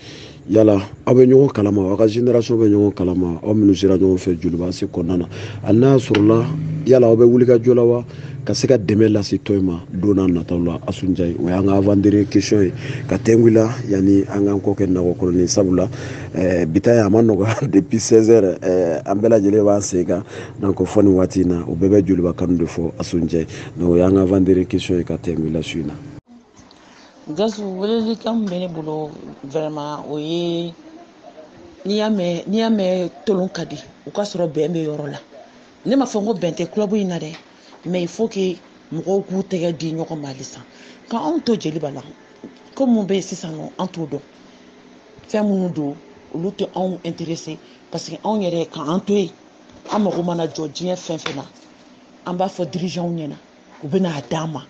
yala aw bɛ ɲɔgɔn kalama aw ka génération bɛ ɲɔgɔn kalama aw minnu sera ɲɔgɔn fɛ Joliba AC kɔnɔna na hali n'a sɔrɔla yala aw bɛ wulikajɔ la wa ka se ka dɛmɛ lase tɔn ma don nataw la Asu Njayi o y'an ka avant-dernière question ye ka tɛngu la yanni an k'an kɔ kɛ nakɔ kɔrɔlen sabula Eh, bi ta ye a ma nɔgɔya depuis 16 heures eh, an bɛɛ lajɛlen b'an sen kan donc fɔ nin waati in na o bɛɛ bɛ joliba kanu de fɔ asu njayi donc o y'an ka avant-dernière question ye ka tɛmɛ la su in na gasu welelikan min bɛ ne bolo vraiment o ye n'i y'a mɛn n'i y'a mɛn tolon ka di o ka sɔrɔ bɛn bɛ yɔrɔ la ne ma fɔ n ko bɛn tɛ club in na dɛ mais il faut que mɔgɔw k'u tɛgɛ di ɲɔgɔn ma halisa ka anw to joliba la ko mun bɛ yen sisan nɔ an t'o dɔn fɛn minnu don olu tɛ anw intéressé parce que anw yɛrɛ k'an to yen an mago mana jɔ diɲɛ fɛn fɛn na an b'a fɔ dirigeants ɲɛna u bɛ n'a d'an ma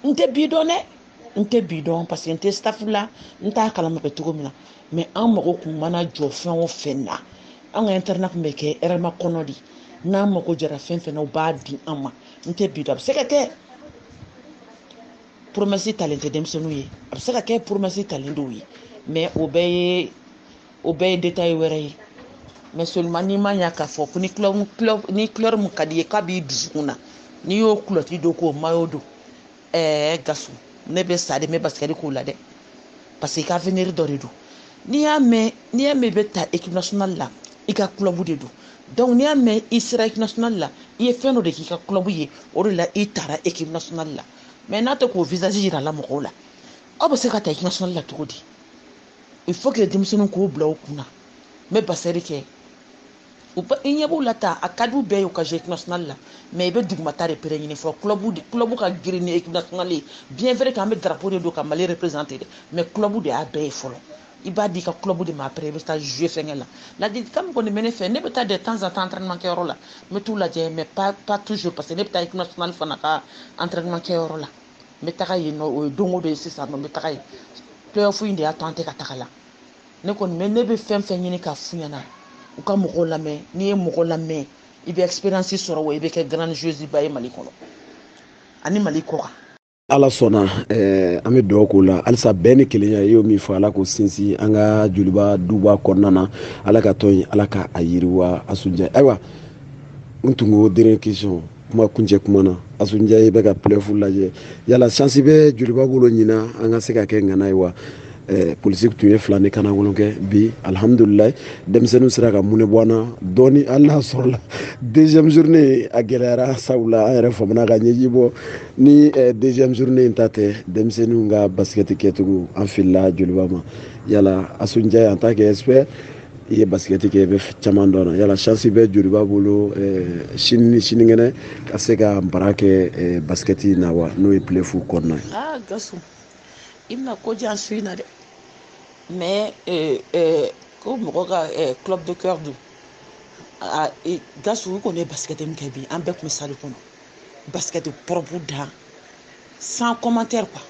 n tɛ bi dɔn dɛ n tɛ bi dɔn parce que n tɛ staff la n t'a kalama bɛ cogo min na mais an mago kun mana jɔ fɛn o fɛn na an ka internat kun bɛ kɛ hɛrɛmakɔnɔ de n'an mago jɔra fɛn fɛn na u b'a di an ma n tɛ bi dɔn a bɛ se ka kɛ promesse talen tɛ denmisɛnninw ye a bɛ se ka kɛ promesse talen dɔw ye mais o bɛɛ ye o bɛɛ ye détail wɛrɛ ye mais seulement n'i ma ɲa k'a fɔ ko ni ni couleur mun ka d'i ye k'a b'i dusukun na n'i y'o culotte don k'o maillot don ɛɛ gasu ne bɛ sa de n bɛ basikɛti k'o la dɛ parce que i ka avenir dɔ de don n'i y'a mɛn n'i y'a mɛn i bɛ taa équipe nationale la i ka club de don donc n'i y'a mɛn i sera équipe nationale la i ye fɛn dɔ de k'i ka club ye o de la i taara équipe nationale la mais n'a tɛ k'o visage yira la mɔgɔw la aw bɛ se ka taa équipe nationale la cogo di il faut que denmisɛnninw k'o bila u kun na n bɛ basikɛti kɛ u ba i ɲɛ b'u la ta a ka d'u bɛɛ ye u ka jouer équipe nationale la mais i bɛ dugumata de pere ɲini fɔlɔ club de club ka girin ni équipe nationale ye bien vrai que an bɛ drapeau de don ka mali représenter dɛ mais club de y'a bɛɛ ye fɔlɔ i b'a d'i ka club de ma après i bɛ taa jouer fɛnkɛ la ladilikan min kɔni bɛ ne fɛ ne bɛ taa de temps en temps entraînement kɛyɔrɔ la n bɛ t'u lajɛ mais pas pas toujours parce que ne bɛ taa équipe nationale fana ka entraînement kɛyɔrɔ la n bɛ taga yen nɔ o ye don o don ye sisan nɔ n bɛ taga yen playoff in de y'a to an tɛ ka taga la ne kɔni mais ne bɛ fɛn fɛn ɲini k'a f'u ɲɛna u ka mɔgɔw lamɛn n'i ye mɔgɔ lamɛn i bɛ expérience sɔrɔ wa i bɛ kɛ grande joueuse ba ye mali kɔnɔ ani mali kɔ kan ala sɔnna eh, an bɛ dugawu k'o la halisa bɛn ni kelenya i y'o min fɔ ala k'o sinsin an ka joliba duba kɔnɔna na ala ka tɔn in ala ka a yiriwa asu njayi ayiwa n tun ko dernière question kuma kuncɛ kuma na asu njayi i bɛ ka playoff lajɛ yala chance bɛ joliba bolo ɲinan an ka se ka kɛ ŋana ye wa Eh, politique tun ye fila ni kana wolon kɛ bi alihamudulila denmisɛnninw sera ka mɔnɛ bɔ an na dɔɔni hali n'a sɔrɔla deuxième journée a gɛlɛyara sabula an yɛrɛ famana ka ɲɛji bɔ ni eh, deuxième journée in ta tɛ denmisɛnninw ka basikɛti kɛcogo an filila joliba ma yala asu njayi en tant qu'expert i ye basikɛti kɛ i bɛ caman dɔn na yala chance bɛ joliba bolo eh, sini ni sinikɛnɛ ka se ka baara kɛ basikɛti in na wa n'o ye playoff kɔnɔna ye ah, i bɛna ko jan su in na dɛ mais euh, euh, ko mɔgɔ ka euh, club de cœur don a e, gasu u kɔni ye basikɛte min kɛ bi an bɛɛ tun bɛ sali kɔnɔ basikɛte pɔrɔpu dan sans commentaire quoi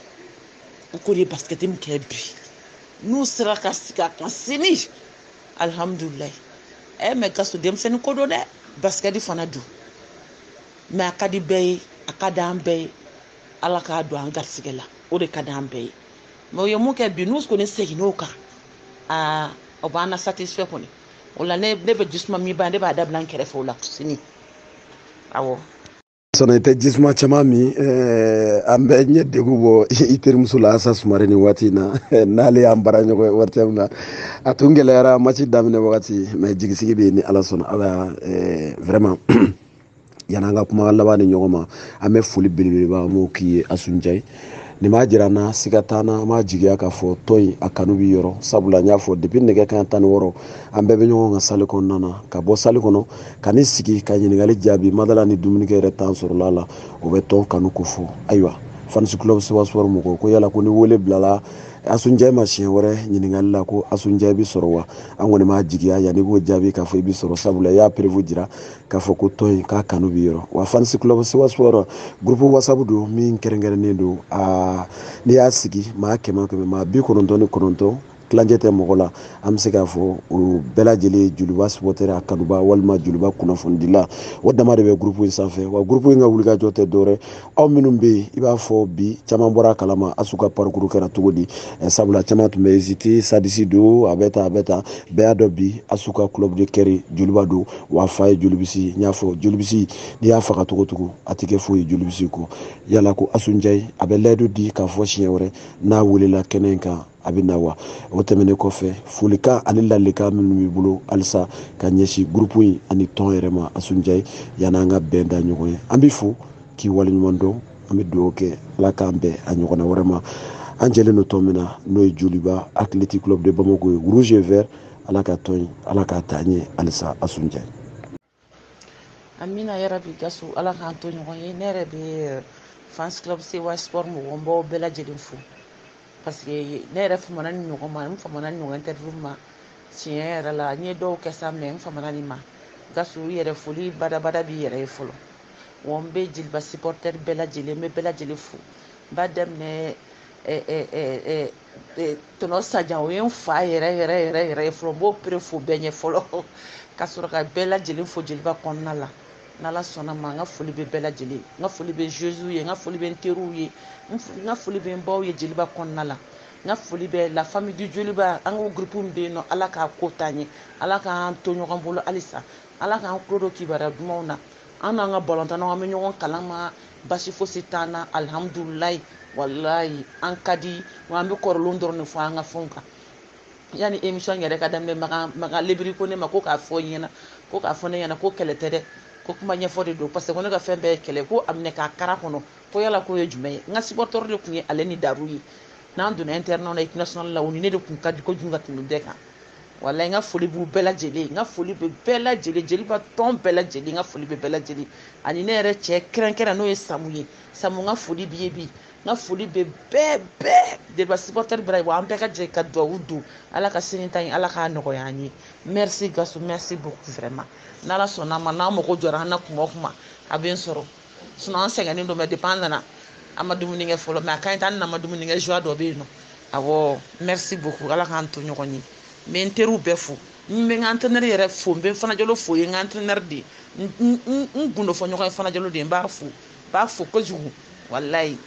u kɔni ye basikɛte min kɛ bi n'u sera ka segin a kan sini alihamudulilayi ɛ mɛ gasu denmisɛnnin ko don dɛ basikɛte fana don mɛ a ka di bɛɛ ye a ka di an bɛɛ ye ala k'a don an garisɛgɛ la o de ka di an bɛɛ ye mɛ u ye min kɛ bi n'u kɔni seginn'o kan aa o b'an na satisfɛ kɔni o la ne ne bɛ jisuma min ban ne b'a dabila n kɛrɛfɛ o la sini awɔ sɔnna i tɛ jisuma caman min eh, an bɛ ɲɛ degu bɔ i terimuso la asa sumare nin waati in na n'ale y'an baaraɲɔgɔn ye ortm na a tun gɛlɛyara match daminɛ wagati mɛ jigisigi bɛ yen ni ala sɔnna ala eh, vraiment yani an ka kuma laban di ɲɔgɔn ma an bɛ foli belebeleba an b'o k'i ye asu njayi nin b'a jira an na siga t'an na an b'a jigiya k'a fɔ tɔn in a kanu b'i yɔrɔ sabula n y'a fɔ depi nɛgɛ kanɲɛ tan ni wɔɔrɔ an bɛɛ bɛ ɲɔgɔn kan sali kɔnɔna na ka bɔ sali kɔnɔ ka n'i sigi ka ɲininkali jaabi madala ni dumunikɛ yɛrɛ tan sɔrɔla la o bɛ tɔn kanu kofɔ ayiwa fanisi club sewa sport mɔgɔw ko yala ko ni wele bilala asu njayi ma siɲɛ wɛrɛ ɲininkali la ko asu njayi bi sɔrɔ wa an kɔni b'a jigiya yanni i k'o jaabi k'a fɔ i bi sɔrɔ sabula i y'a preuve jira k'a fɔ ko tɔn in k'a kanu b'i yɔrɔ wa fanisi club sewa sport groupe whatsapp don min kɛrɛnkɛrɛnnen don aa n'i y'a sigi maa kɛmɛ kɛmɛ maa bi kɔnɔntɔn ni kɔnɔntɔn tilancɛ tɛ mɔgɔ la an bɛ se k'a fɔ o bɛɛ lajɛlen joliba supɔtɛri a kanubaa walima joliba kunnafonidila o dama de bɛ gurupu in sanfɛ wa gurupu in ka wulikajɔ tɛ dɔwɛrɛ aw minnu bɛ yen i b'a fɔ bi caman bɔra a kalama asu ka parikuru kɛra cogo di eh, sabula caman tun bɛ ezite sitadisi don a bɛ tan a bɛ tan bɛɛ y'a dɔn bi asu ka club de cœur joliba don wa a fa ye jolibisi n y'a fɔ jolibisi n'i y'a faga cogo o cogo a tɛ kɛ foyi ye jolibisi kɔ yala ko asu njayi a bɛ layidu di k'a fɔ siɲɛ wɛrɛ n'a welela kɛnɛ in kan a bɛ na wa o tɛmɛnen kɔfɛ folikan ani laadilikan minnu b'i bolo halisa ka ɲɛsin gurupu in ani tɔn yɛrɛ ma asu njayi yanni an ka bɛn da ɲɔgɔn ye an b'i fo k'i waleɲuman dɔn an bɛ dugawu kɛ ala k'an bɛn a ɲɔgɔnna wɛrɛ ma an jɛlen don tɔn min na n'o ye joliba athletic club de bamako ye rouge et vert ala ka tɔn in ala k'a taa ɲɛ halisa asu njayi amina yarabi gasu ala k'an to ɲɔgɔn ye ne yɛrɛ bɛ eh, fans club sewa sport mɔgɔw n b'aw bɛɛ lajɛlen fo parce que ne yɛrɛ famana nin ɲɔgɔn ma n famana nin ɲɔgɔn interview ma tiɲɛ yɛrɛ la n ye dɔw kɛ sa mɛ n famana nin ma gasu yɛrɛ foli badabada b'i yɛrɛ ye fɔlɔ wa n bɛ joliba supporter bɛɛ lajɛlen n bɛ bɛɛ lajɛlen fo n b'a daminɛ eh, eh, Eh, tonton sajan o ye n fa yɛrɛ yɛrɛ yɛrɛ yɛrɛ ye fɔlɔ n b'o pere fo bɛɛ ɲɛ fɔlɔ ka sɔrɔ ka bɛɛ lajɛlen fo joliba kɔnɔna la n'ala sɔnna ma n ka foli bɛ bɛɛ lajɛlen n ka foli bɛ joueuses ye n ka foli bɛ n teriw ye n ka foli bɛ n baw ye joliba kɔnɔna la n ka foli bɛ la famille du joliba an ka groupe min bɛ yen nɔ ala k'a ko taa ɲɛ ala k'an to ɲɔgɔn bolo halisa ala k'an tulo don kibaruya dumanw na an n'an ka balontannaw an bɛ ɲɔgɔn kalama basi fosi t'an na alihamudulilayi walayi an ka di wa an bɛ kɔrɔlenw dɔrɔn de fɔ an ka fɛnw kan yanni émission yɛrɛ ka daminɛ makan makan lebiri ko ne ma ko k'a fɔ n ɲɛna ko k'a fɔ ne ɲɛna ko kɛlɛ tɛ dɛ ko kuma ɲɛfɔ de don parce que ko ne ka fɛn bɛɛ ye kɛlɛ ko a minɛ k'a kara kɔnɔ ko yala k'o ye jumɛn ye n ka supporteur de tun ye ale ni daru ye n'an donna internat la équipe nationale la o ni ne de tun ka di kojugu ka tɛmɛ bɛɛ kan walayi n ka foli b'u bɛɛ lajɛlen n ka foli bɛ bɛɛ lajɛlen joliba tɔn bɛɛ lajɛlen n ka foli bɛ bɛɛ lajɛlen ani ne yɛrɛ cɛ kɛrɛnkɛrɛn n'o ye samu ye samu n ka foli b'i ye bi n ka foli bɛ bɛɛ bɛɛ joliba supporter bɛɛ wa an bɛɛ ka jɛ ka duwawu don ala ka sini ta ye ala k'a nɔgɔya an ye merci gasu merci beaucoup vraiment n'ala sɔnna a ma n'a mago jɔra an na kuma o kuma a bɛ n sɔrɔ sinon an sɛgɛnnen don mais depuis an nana an ma dumuni kɛ fɔlɔ mais a ka ɲi tan n'an ma dumuni kɛ joie dɔ bɛ yen nɔ awɔ merci beaucoup ala k'an to ɲɔgɔn ye n bɛ n teriw bɛɛ fo n bɛ n ka entraîneur yɛrɛ fo n bɛ fana jalo fo o ye n ka entraîneur de ye n gundo fɔ ɲɔgɔn ye fana jalo de ye n b'a fo n b'a fo kojugu walayi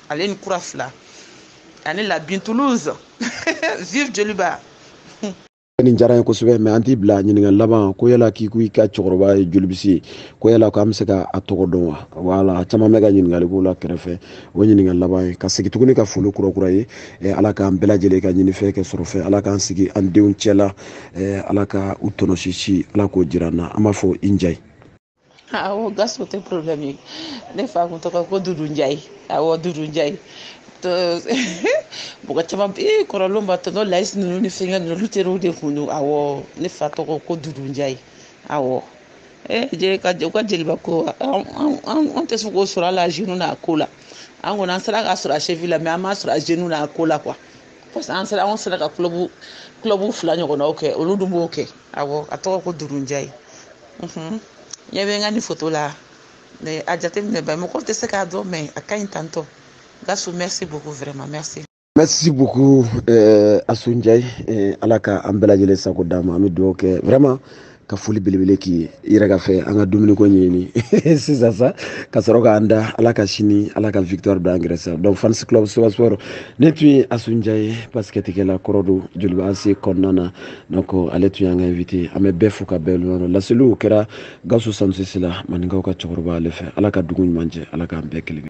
ale ni kura fila ani la bin toulouse vive joliba nin diyara ye kosɛbɛ mais an t'i bila ɲininkali laban ko yala k'i ko i ka cɛkɔrɔba ye jolibisi ye ko yala ko an bɛ se ka a tɔgɔ dɔn wa wala caman bɛ ka ɲininkali k'o la kɛrɛfɛ o ɲininkali laban ye ka segin tuguni ka foli kurakuraya ala k'an bɛɛ lajɛlen ka ɲinifɛn kɛ sɔrɔfɛn ala k'an sigi an denw cɛ la ala ka u tɔnɔsisi ala k'o jira an na an b'a fɔ i njayi awo ah, gasu o tɛ problème ye ne fa kun tɔgɔ ko dudu njayi awɔ ah, dudu njayi mɔgɔ caman bɛ ee kɔrɔlenw b'a tonton layisi ninnu ni fɛnkɛ ninnu olu teriw de kun don awɔ ne fa tɔgɔ ko dudu njayi awɔ ee jeli ka u ka joliba ko an tɛ se k'o sɔrɔ a la genou n'a ko la an kɔni an sera k'a sɔrɔ a cheville la mais an m'a sɔrɔ a genou n'a ko la quoi parce que an sera an sera ka club club fila ɲɔgɔnnaw kɛ olu dun b'o kɛ awɔ a tɔgɔ ko dudu njayi n ɲɛ bɛ n ka nin foto la mais a jateminɛ ba mɔgɔw tɛ se k'a dɔn mais a ka ɲi tonton gasu merci beaucoup vraiment merci merci beaucoup euh, asu ndiaye euh, ala ka an bɛɛ lajɛlen sago d'a ma an bɛ dugawu kɛ vraiment ka foli belebele k'i ye i yɛrɛ ka fɛ an ka dumuniko ɲɛɲini sisan sa ka sɔrɔ k'an da ala ka sini ala ka victoire don an gɛrɛ sa donc fans club soba sport nin tun ye asu ndiaye basikɛtikɛla kɔrɔ don joliba AC kɔnɔna na donc ale tun y'an ka invité an bɛ bɛɛ fo ka bɛɛ waleɲumandɔn laseli kɛra gasu samusisi la maninkaw ka cɛkɔrɔba ale fɛ ala ka dugu ɲuman jɛ ala k'an bɛɛ kelen